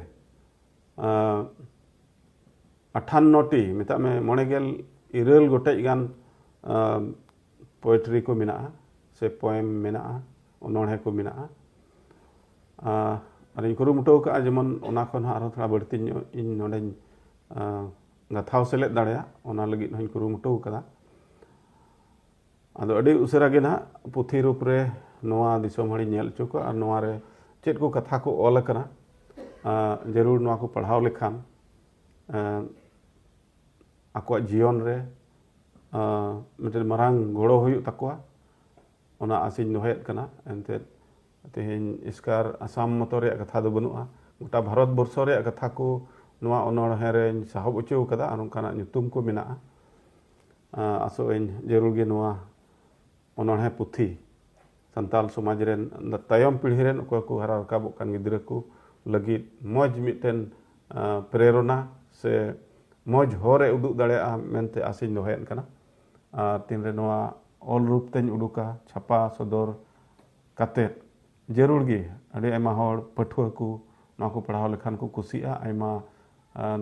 [SPEAKER 1] ᱟᱴᱷᱟᱱᱱᱚ ᱴᱤ ᱢᱮᱛᱟᱜ ᱢᱮ ᱢᱚᱬᱮ ᱜᱮᱞ ᱤᱨᱟᱹᱞ ᱜᱚᱴᱮᱡ ᱜᱟᱱ ᱯᱳᱭᱮᱴᱨᱤ ᱠᱚ ᱢᱮᱱᱟᱜᱼᱟ ᱥᱮ ᱯᱚᱭᱮᱢ ᱢᱮᱱᱟᱜᱼᱟ ᱚᱱᱚᱬᱦᱮ ᱠᱚ ᱢᱮᱱᱟᱜᱼᱟ ᱟᱨᱤᱧ ᱠᱩᱨᱩᱢᱩᱴᱩ ᱟᱠᱟᱫᱼᱟ ᱡᱮᱢᱚᱱ ᱚᱱᱟ ᱠᱷᱚᱱ ᱦᱚᱸ ᱟᱨᱦᱚᱸ ᱛᱷᱚᱲᱟ ᱵᱟᱹᱲᱛᱤ ᱧᱚᱜ ᱤᱧ ᱱᱚᱰᱮᱧ ᱜᱟᱛᱷᱟᱣ ᱥᱮᱞᱮᱫ ᱫᱟᱲᱮᱭᱟᱜ ᱚᱱᱟ ᱞᱟᱹᱜᱤᱫ ᱦᱚᱸᱧ ᱠᱩᱨᱩᱢᱩᱴᱩ ᱟᱠᱟᱫᱟ ᱟᱫᱚ ᱟᱹᱰᱤ ᱩᱥᱟᱹᱨᱟ ᱜᱮ ᱱᱟᱦᱟᱜ ᱯᱩᱛᱷᱤ ᱨᱩᱯ ᱨᱮ ᱱᱚᱣᱟ ᱫᱤᱥᱚᱢ ᱦᱚᱲᱤᱧ ᱧᱮᱞ ᱦᱚᱪᱚ ᱠᱚᱣᱟ ᱟᱨ ᱱᱚᱣᱟ ᱨᱮ ᱪᱮᱫ ᱠᱚ ᱠᱟᱛᱷᱟ ᱠᱚ ᱚᱞ ᱟᱠᱟᱱᱟ ᱡᱟᱹᱨᱩᱲ ᱱᱚᱣᱟ ᱠᱚ ᱯᱟᱲᱦᱟᱣ ᱞᱮᱠᱷᱟᱱ ᱟᱠᱚᱣᱟᱜ ᱡᱤᱭᱚᱱ ᱨᱮ ᱢᱤᱫᱴᱮᱱ ᱢᱟᱨᱟᱝ ᱜᱚᱲᱚ ᱦᱩᱭᱩᱜ ᱛᱟᱠᱚᱣᱟ ᱚᱱᱟ ᱟᱥᱤᱧ ᱫᱚᱦᱚᱭᱮᱫ ᱠᱟᱱᱟ ᱮᱱᱛᱮᱫ ᱛᱮᱦᱮᱧ ᱮᱥᱠᱟᱨ ᱟᱥᱟᱢ ᱢᱚᱛᱚ ᱨᱮᱭᱟᱜ ᱠᱟᱛᱷᱟ ᱫᱚ ᱵᱟᱹᱱᱩᱜᱼᱟ ᱜᱚᱴᱟ ᱵᱷᱟᱨᱚᱛ ᱵᱚᱨᱥᱚ ᱨᱮᱭᱟᱜ ᱠᱟᱛᱷᱟ ᱠᱚ ᱱᱚᱣᱟ ᱚᱱᱚᱬᱦᱮ ᱨᱮᱧ ᱥᱟᱦᱚᱵ ᱦᱚᱪᱚ ᱟᱠᱟᱫᱟ ᱟᱨ ᱚᱱᱠᱟᱱᱟᱜ ᱧᱩᱛᱩᱢ ᱠᱚ ᱢᱮᱱᱟᱜᱼᱟ ᱟᱥᱚᱜ ᱟᱹᱧ ᱡᱟᱹᱨᱩᱲ ᱜᱮ ᱱᱚᱣᱟ ᱚᱱᱚᱬᱦᱮ ᱯᱩᱛᱷᱤ ᱥᱟᱱᱛᱟᱞ ᱥᱚᱢᱟᱡᱽ ᱨᱮᱱ ᱛᱟᱭᱚᱢ ᱯᱤᱲᱦᱤ ᱨᱮᱱ ᱚᱠᱚᱭ ᱠᱚ ᱦᱟᱨᱟ ᱨᱟᱠᱟᱵᱚᱜ ᱠᱟᱱ ᱜᱤᱫᱽᱨᱟᱹ ᱠᱚ ᱞᱟᱹᱜᱤᱫ ᱢᱚᱡᱽ ᱢᱤᱫᱴᱮᱱ ᱯᱨᱮᱨᱚᱱᱟ ᱥᱮ ᱢᱚᱡᱽ ᱦᱚᱨ ᱮ ᱩᱫᱩᱜ ᱫᱟᱲᱮᱭᱟᱜᱼᱟ ᱢᱮᱱᱛᱮ ᱟᱥᱤᱧ ᱫᱚᱦᱚᱭᱮᱫ ᱠᱟᱱᱟ ᱟᱨ ᱛᱤᱱᱨᱮ ᱱᱚᱣᱟ ᱚᱞ ᱨᱩᱯ ᱛᱮᱧ ᱩᱰᱩᱠᱟ ᱪᱷᱟᱯᱟ ᱥᱚᱫᱚᱨ ᱠᱟᱛᱮᱫ ᱡᱟᱹᱨᱩᱲ ᱜᱮ ᱟᱹᱰᱤ ᱟᱭᱢᱟ ᱦᱚᱲ ᱯᱟᱹᱴᱷᱩᱣᱟᱹ ᱠᱚ ᱱᱚᱣᱟ ᱠᱚ ᱯᱟᱲᱦᱟᱣ ᱞᱮᱠᱷᱟᱱ ᱠᱚ ᱠᱩᱥᱤᱜᱼᱟ ᱟᱭᱢᱟ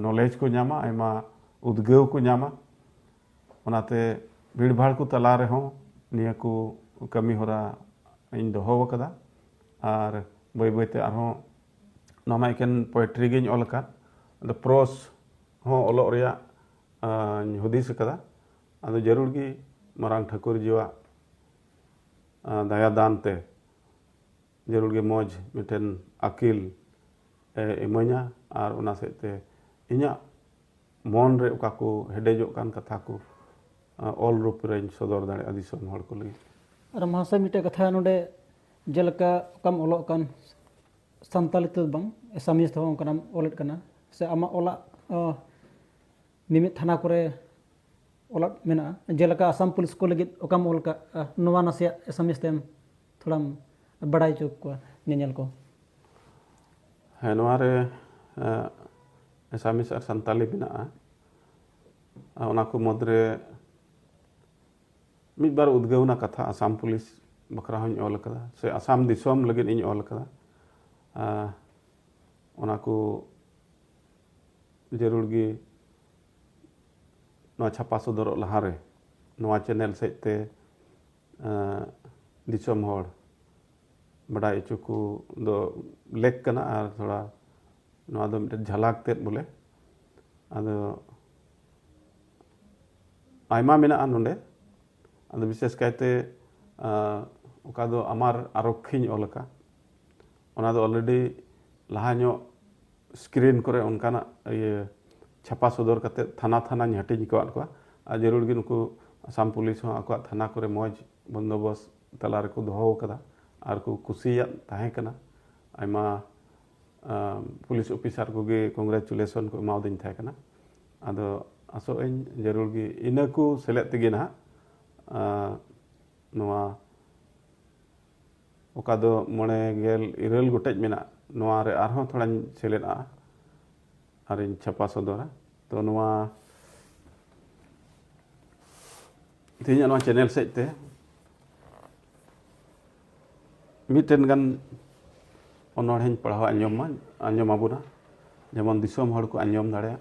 [SPEAKER 1] ᱱᱚᱞᱮᱡᱽ ᱠᱚ ᱧᱟᱢᱟ ᱟᱭᱢᱟ ᱩᱫᱽᱜᱟᱹᱣ ᱠᱚ ᱧᱟᱢᱟ ᱚᱱᱟᱛᱮ ᱵᱷᱤᱲᱵᱷᱟᱲ ᱠᱚ ᱛᱟᱞᱟ ᱨᱮᱦᱚᱸ ᱱᱤᱭᱟᱹ ᱠᱚ ᱠᱟᱹᱢᱤ ᱦᱚᱨᱟ ᱤᱧ ᱫᱚᱦᱚ ᱟᱠᱟᱫᱟ ᱟᱨ ᱵᱟᱹᱭ ᱵᱟᱹᱭᱛᱮ ᱟᱨᱦᱚᱸ ᱱᱚᱣᱟ ᱢᱟ ᱮᱠᱮᱱ ᱯᱳᱭᱮᱴᱨᱤ ᱜᱤᱧ ᱚᱞ ᱟᱠᱟᱫ ᱟᱫᱚ ᱯᱨᱳᱥ ᱦᱚᱸ ᱚᱞᱚᱜ ᱨᱮᱭᱟᱜ ᱤᱧ ᱦᱩᱫᱤᱥ ᱟᱠᱟᱫᱟ ᱟᱫᱚ ᱡᱟᱹᱨᱩᱲ ᱜᱮ ᱢᱟᱨᱟᱝ ᱴᱷᱟᱹᱠᱩᱨ ᱡᱤᱣᱟᱜ ᱫᱟᱭᱟ ᱫᱟᱱ ᱛᱮ ᱡᱟᱹᱨᱩᱲ ᱜᱮ ᱢᱚᱡᱽ ᱢᱤᱫᱴᱮᱱ ᱟᱹᱠᱤᱞ ᱮ ᱤᱢᱟᱹᱧᱟ ᱟᱨ ᱚᱱᱟ ᱥᱮᱫ ᱛᱮ ᱤᱧᱟᱹᱜ ᱢᱚᱱ ᱨᱮ ᱚᱠᱟ ᱠᱚ ᱦᱮᱰᱮᱡᱚᱜ ᱠᱟᱱ ᱠᱟᱛᱷᱟ ᱠᱚ ᱚᱞ ᱨᱩᱯ ᱨᱮᱧ ᱥᱚᱫᱚᱨ ᱫᱟᱲᱮᱭᱟᱜᱼᱟ ᱫᱤᱥᱚᱢ ᱦᱚᱲ ᱠᱚ ᱞᱟᱹᱜᱤᱫ ᱟᱨ ᱢᱟᱦᱟᱥᱚᱭ ᱢᱤᱫᱴᱮᱡ ᱠᱟᱛᱷᱟ ᱱᱚᱰᱮ ᱡᱮᱞᱮᱠᱟ ᱚᱠᱟᱢ ᱚᱞᱚᱜ ᱠᱟᱱ ᱥᱟᱱᱛᱟᱞᱤ ᱛᱮᱫᱚ ᱵᱟᱝ ᱮᱥᱟᱢᱤᱡ ᱛᱮᱦᱚᱸ ᱚᱱᱠᱟᱱᱟᱜ ᱚᱞᱮᱫ ᱠᱟᱱᱟ ᱥᱮ ᱟᱢᱟᱜ ᱚᱞᱟᱜ ᱢᱤᱢᱤᱫ ᱛᱷᱟᱱᱟ ᱠᱚᱨᱮ ᱚᱞᱟᱜ ᱢᱮᱱᱟᱜᱼᱟ ᱡᱮᱞᱮᱠᱟ ᱟᱥᱟᱢ ᱯᱩᱞᱤᱥ ᱠᱚ ᱞᱟᱹᱜᱤᱫ ᱚᱠᱟᱢ ᱚᱞ ᱠᱟᱜᱼᱟ ᱱᱚᱣᱟ ᱱᱟᱥᱮᱭᱟᱜ ᱮᱥᱟᱢᱤᱡ ᱛᱮᱢ ᱛᱷᱚᱲᱟᱢ ᱵᱟᱲᱟᱭ ᱦᱚᱪᱚ ᱠᱚᱣᱟ ᱧᱮᱧᱮᱞ ᱠᱚ ᱦᱮᱸ ᱱᱚᱣᱟ ᱨᱮ ᱮᱥᱟᱢᱤᱥ ᱟᱨ ᱥᱟᱱᱛᱟᱞᱤ ᱢᱮᱱᱟᱜᱼᱟ ᱚᱱᱟ ᱠᱚ ᱢᱩᱫᱽ ᱨᱮ ᱢᱤᱫ ᱵᱟᱨ ᱩᱫᱽᱜᱟᱹᱣᱱᱟ ᱠᱟᱛᱷᱟ ᱟᱥᱟᱢ ᱯᱩᱞᱤᱥ ᱵᱟᱠᱷᱨᱟ ᱦᱚᱧ ᱚᱞ ᱟᱠᱟᱫᱟ ᱥᱮ ᱟᱥᱟᱢ ᱫᱤᱥᱚᱢ ᱞᱟᱹᱜᱤᱫ ᱤᱧ ᱚᱞ ᱟᱠᱟᱫᱟ ᱚᱱᱟ ᱠᱚ ᱡᱟᱹᱨᱩᱲ ᱜᱮ ᱱᱚᱣᱟ ᱪᱷᱟᱯᱟ ᱥᱚᱫᱚᱨᱚᱜ ᱞᱟᱦᱟᱨᱮ ᱱᱚᱣᱟ ᱪᱮᱱᱮᱞ ᱥᱮᱫ ᱛᱮ ᱫᱤᱥᱚᱢ ᱦᱚᱲ ᱵᱟᱰᱟᱭ ᱦᱚᱪᱚ ᱠᱚ ᱫᱚ ᱞᱮᱠ ᱠᱟᱱᱟ ᱟᱨ ᱛᱷᱚᱲᱟ ᱱᱚᱣᱟ ᱫᱚ ᱢᱤᱫᱴᱮᱱ ᱡᱷᱟᱞᱟᱠ ᱛᱮᱫ ᱵᱚᱞᱮ ᱟᱫᱚ ᱟᱭᱢᱟ ᱢᱮᱱᱟᱜᱼᱟ ᱱᱚᱰᱮ ᱟᱫᱚ ᱵᱤᱥᱮᱥ ᱠᱟᱭᱛᱮ ᱚᱠᱟ ᱫᱚ ᱟᱢᱟᱨ ᱟᱨᱚᱠᱠᱷᱤᱧ ᱚᱞ ᱟᱠᱟᱫ ᱚᱱᱟ ᱫᱚ ᱚᱞᱨᱮᱰᱤ ᱞᱟᱦᱟ ᱧᱚᱜ ᱥᱠᱨᱤᱱ ᱠᱚᱨᱮ ᱚᱱᱠᱟᱱᱟᱜ ᱤᱭᱟᱹ ᱪᱷᱟᱯᱟ ᱥᱚᱫᱚᱨ ᱠᱟᱛᱮ ᱛᱷᱟᱱᱟ ᱛᱷᱟᱱᱟᱧ ᱦᱟᱹᱴᱤᱧ ᱟᱠᱟᱫ ᱠᱚᱣᱟ ᱟᱨ ᱡᱟᱹᱨᱩᱲ ᱜᱮ ᱱᱩᱠᱩ ᱟᱥᱟᱢ ᱯᱩᱞᱤᱥ ᱦᱚᱸ ᱟᱠᱚᱣᱟᱜ ᱛᱷᱟᱱᱟ ᱠᱚᱨᱮ ᱢᱚᱡᱽ ᱵᱚᱱᱫᱚᱵᱚᱥ ᱛᱟᱞᱟ ᱨᱮᱠᱚ ᱫᱚᱦᱚ ᱟᱠᱟᱫᱟ ᱟᱨ ᱠᱚ ᱠᱩᱥᱤᱭᱟᱜ ᱛᱟᱦᱮᱸ ᱠᱟᱱᱟ ᱟᱭᱢᱟ ᱯᱩᱞᱤᱥ ᱚᱯᱷᱤᱥᱟᱨ ᱠᱚᱜᱮ ᱠᱚᱝᱜᱨᱮᱪᱩᱞᱮᱥᱚᱱ ᱠᱚ ᱮᱢᱟᱣᱫᱤᱧ ᱛᱟᱦᱮᱸ ᱠᱟᱱᱟ ᱟᱫᱚ ᱟᱥᱚᱜ ᱟᱹᱧ ᱡᱟᱹᱨᱩᱲ ᱜᱮ ᱤᱱᱟᱹ ᱠᱚ ᱥᱮᱞᱮᱫ ᱛᱮᱜᱮ ᱱᱟᱦᱟᱜ ᱱᱚᱣᱟ ᱚᱠᱟ ᱫᱚ ᱢᱚᱬᱮ ᱜᱮᱞ ᱤᱨᱟᱹᱞ ᱜᱚᱴᱮᱡ ᱢᱮᱱᱟᱜ ᱱᱚᱣᱟ ᱨᱮ ᱟᱨᱦᱚᱸ ᱛᱷᱚᱲᱟᱧ ᱥᱮᱞᱮᱫ ᱟᱜᱼᱟ ᱟᱨᱤᱧ ᱪᱷᱟᱯᱟ ᱥᱚᱫᱚᱨᱟ ᱛᱚ ᱱᱚᱣᱟ ᱛᱮᱦᱮᱧᱟᱜ ᱱᱚᱣᱟ ᱪᱮᱱᱮᱞ ᱥᱮᱫ ᱛᱮ ᱢᱤᱫᱴᱮᱱ ᱜᱟᱱ ᱚᱱᱚᱬᱦᱮᱧ ᱯᱟᱲᱦᱟᱣ ᱟᱸᱡᱚᱢ ᱢᱟ ᱟᱸᱡᱚᱢ ᱟᱵᱚᱱᱟ ᱡᱮᱢᱚᱱ ᱫᱤᱥᱚᱢ ᱦᱚᱲ ᱠᱚ ᱟᱸᱡᱚᱢ ᱫᱟᱲᱮᱭᱟᱜ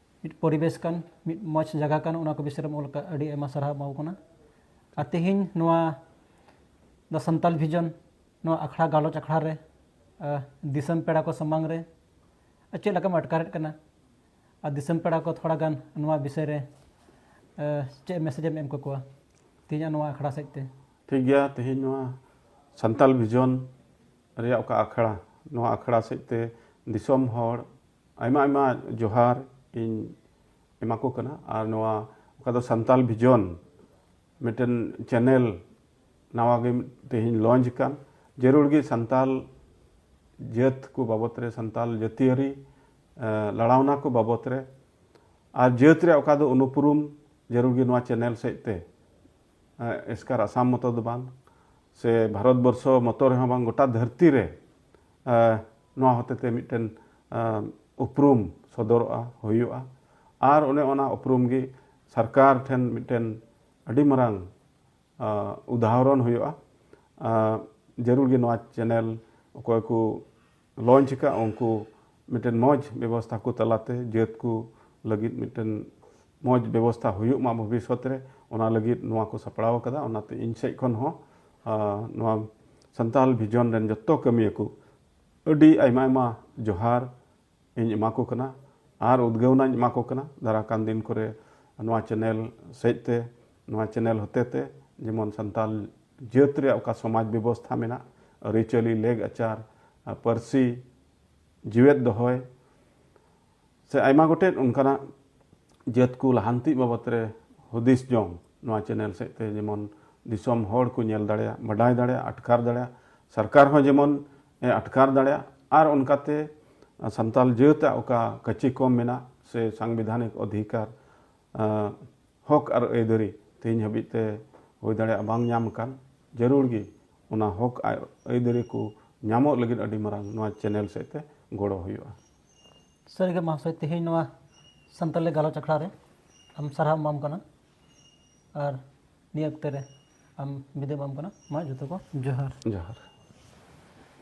[SPEAKER 1] ᱢᱤᱫ ᱯᱚᱨᱤᱵᱮᱥ ᱠᱟᱱ ᱢᱤᱫ ᱢᱚᱡᱽ ᱡᱟᱭᱜᱟ ᱠᱟᱱ ᱚᱱᱟ ᱠᱚ ᱵᱤᱥᱚᱭ ᱨᱮᱢ ᱚᱞ ᱠᱟᱜ ᱟᱹᱰᱤ ᱟᱭᱢᱟ ᱥᱟᱨᱦᱟᱣ ᱮᱢᱟᱣ ᱠᱟᱱᱟ ᱟᱨ ᱛᱮᱦᱮᱧ ᱱᱚᱣᱟ ᱫᱟ ᱥᱟᱱᱛᱟᱞ ᱵᱷᱤᱡᱚᱱ ᱱᱚᱣᱟ ᱟᱠᱷᱲᱟ ᱜᱟᱞᱚᱪ ᱟᱠᱷᱲᱟ ᱨᱮ ᱫᱤᱥᱚᱢ ᱯᱮᱲᱟ ᱠᱚ ᱥᱟᱢᱟᱝ ᱨᱮ ᱪᱮᱫ ᱞᱮᱠᱟᱢ ᱟᱴᱠᱟᱨᱮᱫ ᱠᱟᱱᱟ ᱟᱨ ᱫᱤᱥᱚᱢ ᱯᱮᱲᱟ ᱠᱚ ᱛᱷᱚᱲᱟ ᱜᱟᱱ ᱱᱚᱣᱟ ᱵᱤᱥᱚᱭ ᱨᱮ ᱪᱮᱫ ᱢᱮᱥᱮᱡᱽ ᱮᱢ ᱮᱢ ᱠᱟᱠᱚᱣᱟ ᱛᱮᱦᱮᱧᱟᱜ ᱱᱚᱣᱟ ᱟᱠᱷᱲᱟ ᱥᱮᱫ ᱛᱮ ᱴᱷᱤᱠ ᱜᱮᱭᱟ ᱛᱮᱦᱮᱧ ᱱᱚᱣᱟ ᱥᱟᱱᱛᱟᱞ ᱵᱷᱤᱡᱚᱱ ᱨᱮᱭᱟᱜ ᱚᱠᱟ ᱟᱠᱷᱲᱟ ᱱᱚᱣᱟ ᱟᱠᱷᱲᱟ ᱥᱮᱫ ᱛᱮ ᱫᱤᱥᱚᱢ ᱦᱚᱲ ᱟᱭᱢᱟ ᱟᱭᱢᱟ ᱡᱚᱦᱟᱨ ᱤᱧ ᱮᱢᱟ ᱠᱚ ᱠᱟᱱᱟ ᱟᱨ ᱱᱚᱣᱟ ᱚᱠᱟ ᱫᱚ ᱥᱟᱱᱛᱟᱞ ᱵᱷᱤᱡᱚᱱ ᱢᱤᱫᱴᱮᱱ ᱪᱮᱱᱮᱞ ᱱᱟᱣᱟ ᱜᱮ ᱛᱮᱦᱮᱧ ᱞᱚᱧᱪ ᱟᱠᱟᱱ ᱡᱟᱹᱨᱩᱲ ᱜᱮ ᱥᱟᱱᱛᱟᱞ ᱡᱟᱹᱛ ᱠᱚ ᱵᱟᱵᱚᱛ ᱨᱮ ᱥᱟᱱᱛᱟᱞ ᱡᱟᱹᱛᱤᱭᱟᱹᱨᱤ ᱞᱟᱲᱟᱣᱱᱟ ᱠᱚ ᱵᱟᱵᱚᱛ ᱨᱮ ᱟᱨ ᱡᱟᱹᱛ ᱨᱮ ᱚᱠᱟ ᱫᱚ ᱩᱱᱩᱯᱩᱨᱩᱢ ᱡᱟᱹᱨᱩᱲ ᱜᱮ ᱱᱚᱣᱟ ᱪᱮᱱᱮᱞ ᱥᱮᱡ ᱛᱮ ᱮᱥᱠᱟᱨ ᱟᱥᱟᱢ ᱢᱚᱛᱚ ᱫᱚ ᱵᱟᱝ ᱥᱮ ᱵᱷᱟᱨᱚᱛ ᱵᱚᱨᱥᱚ ᱢᱚᱛᱚ ᱨᱮᱦᱚᱸ ᱵᱟᱝ ᱜᱚᱴᱟ ᱫᱷᱟᱹᱨᱛᱤ ᱨᱮ ᱱᱚᱣᱟ ᱦᱚᱛᱮᱛᱮ ᱢᱤᱫᱴᱮᱱ ᱩᱯᱨᱩᱢ ᱥᱚᱫᱚᱨᱚᱜᱼᱟ ᱦᱩᱭᱩᱜᱼᱟ ᱟᱨ ᱚᱱᱮ ᱚᱱᱟ ᱩᱯᱨᱩᱢ ᱜᱮ ᱥᱚᱨᱠᱟᱨ ᱴᱷᱮᱱ ᱢᱤᱫᱴᱮᱱ ᱟᱹᱰᱤ ᱢᱟᱨᱟᱝ ᱩᱫᱟᱦᱚᱨᱚᱱ ᱦᱩᱭᱩᱜᱼᱟ ᱡᱟᱹᱨᱩᱲ ᱜᱮ ᱱᱚᱣᱟ ᱪᱮᱱᱮᱞ ᱚᱠᱚᱭ ᱠᱚ ᱞᱚᱧᱪ ᱟᱠᱟᱫ ᱩᱱᱠᱩ ᱢᱤᱫᱴᱮᱱ ᱢᱚᱡᱽ ᱵᱮᱵᱚᱥᱛᱷᱟ ᱠᱚ ᱛᱟᱞᱟᱛᱮ ᱡᱟᱹᱛ ᱠᱚ ᱞᱟᱹᱜᱤᱫ ᱢᱤᱫᱴᱮᱱ ᱢᱚᱡᱽ ᱵᱮᱵᱚᱥᱛᱷᱟ ᱦᱩᱭᱩᱜ ᱢᱟ ᱵᱷᱚᱵᱤᱥᱥᱚᱛ ᱨᱮ ᱚᱱᱟ ᱞᱟᱹᱜᱤᱫ ᱱᱚᱣᱟ ᱠᱚ ᱥᱟᱯᱲᱟᱣ ᱠᱟᱫᱟ ᱚᱱᱟᱛᱮ ᱤᱧ ᱥᱮᱫ ᱠᱷᱚᱱ ᱦᱚᱸ ᱟᱨ ᱱᱚᱣᱟ ᱥᱟᱱᱛᱟᱞ ᱵᱷᱤᱡᱚᱱ ᱨᱮᱱ ᱡᱚᱛᱚ ᱠᱟᱹᱢᱤᱭᱟᱹ ᱠᱚ ᱟᱹᱰᱤ ᱟᱭᱢᱟ ᱟᱭᱢᱟ ᱡᱚᱦᱟᱨ ᱤᱧ ᱮᱢᱟ ᱠᱚ ᱠᱟᱱᱟ ᱟᱨ ᱩᱫᱽᱜᱟᱹᱣᱱᱟᱧ ᱮᱢᱟ ᱠᱚ ᱠᱟᱱᱟ ᱫᱟᱨᱟᱭ ᱠᱟᱱ ᱫᱤᱱ ᱠᱚᱨᱮ ᱱᱚᱣᱟ ᱪᱮᱱᱮᱞ ᱥᱮᱫ ᱛᱮ ᱱᱚᱣᱟ ᱪᱮᱱᱮᱞ ᱦᱚᱛᱮ ᱛᱮ ᱡᱮᱢᱚᱱ ᱥᱟᱱᱛᱟᱞ ᱡᱟᱹᱛ ᱨᱮᱭᱟᱜ ᱚᱠᱟ ᱥᱚᱢᱟᱡᱽ ᱵᱮᱵᱚᱥᱛᱷᱟ ᱢᱮᱱᱟᱜ ᱟᱹᱨᱤᱪᱟᱹᱞᱤ ᱞᱮᱜᱽ ᱟᱪᱟᱨ ᱯᱟᱹᱨᱥᱤ ᱡᱮᱣᱮᱫ ᱫᱚᱦᱚᱭ ᱥᱮ ᱟᱭᱢᱟ ᱜᱚᱴᱮᱡ ᱚᱱᱠᱟᱱᱟᱜ ᱡᱟᱹᱛ ᱠᱚ ᱞᱟᱦᱟᱱᱛᱤ ᱵᱟᱵᱚᱛ ᱨᱮ ᱦᱩᱫᱤᱥ ᱡᱚᱝ ᱱᱚᱣᱟ ᱪᱮᱱᱮᱞ ᱥᱮᱫ ᱛᱮ ᱡᱮᱢᱚᱱ ᱫᱤᱥᱚᱢ ᱦᱚᱲ ᱠᱚ ᱧᱮᱞ ᱫᱟᱲᱮᱭᱟᱜ ᱵᱟᱰᱟᱭ ᱫᱟᱲᱮᱭᱟᱜ ᱟᱴᱠᱟᱨ ᱫᱟᱲᱮᱭᱟᱜ ᱥᱚᱨᱠᱟᱨ ᱦᱚᱸ ᱡᱮᱢᱚᱱ ᱮ ᱟᱴᱠᱟᱨ ᱫᱟᱲᱮᱭᱟᱜ ᱟᱨ ᱚᱱᱠᱟᱛᱮ ᱥᱟᱱᱛᱟᱞ ᱡᱟᱹᱛ ᱟᱜ ᱚᱠᱟ ᱠᱟᱹᱪᱤ ᱠᱚᱢ ᱢᱮᱱᱟᱜ ᱥᱮ ᱥᱟᱝᱵᱤᱫᱷᱟᱱᱤᱠ ᱚᱫᱷᱤᱠᱟᱨ ᱦᱚᱠ ᱟᱨ ᱟᱹᱭᱫᱟᱹᱨᱤ ᱛᱮᱦᱮᱧ ᱦᱟᱹᱵᱤᱡ ᱛᱮ ᱦᱩᱭ ᱫᱟᱲᱮᱭᱟᱜ ᱵᱟᱝ ᱧᱟᱢ ᱟᱠᱟᱱ ᱡᱟᱹᱨᱩᱲ ᱜᱮ ᱚᱱᱟ ᱦᱚᱠ ᱟᱨ ᱟᱹᱭᱫᱟᱹᱨᱤ ᱠᱚ ᱧᱟᱢᱚᱜ ᱞᱟᱹᱜᱤᱫ ᱟᱹᱰᱤ ᱢᱟᱨᱟᱝ ᱱᱚᱣᱟ ᱪᱮᱱᱮᱞ ᱥᱮᱫ ᱛᱮ ᱜᱚᱲᱚ ᱦᱩᱭᱩᱜᱼᱟ ᱥᱟᱹᱨᱤᱜᱮ ᱢᱟᱦᱟᱥᱚᱭ ᱛᱮᱦᱮᱧ ᱱᱚᱣᱟ ᱥᱟᱱᱛᱟᱲᱤ ᱜᱟᱞᱚᱪ ᱟᱠᱷᱲᱟ ᱨᱮ ᱟᱢ ᱥᱟᱨᱦᱟᱣ ᱮᱢᱟᱢ ᱠᱟᱱᱟ ᱟᱨ ᱱᱤᱭᱟᱹ ᱚᱠᱛᱮ ᱨᱮ ᱟᱢ ᱵᱤᱫᱟᱹᱭ ᱮᱢᱟᱢ ᱠᱟᱱᱟ ᱢᱟ ᱡᱚᱛᱚ ᱠᱚ ᱡᱚᱦᱟᱨ ᱡᱚᱦᱟᱨ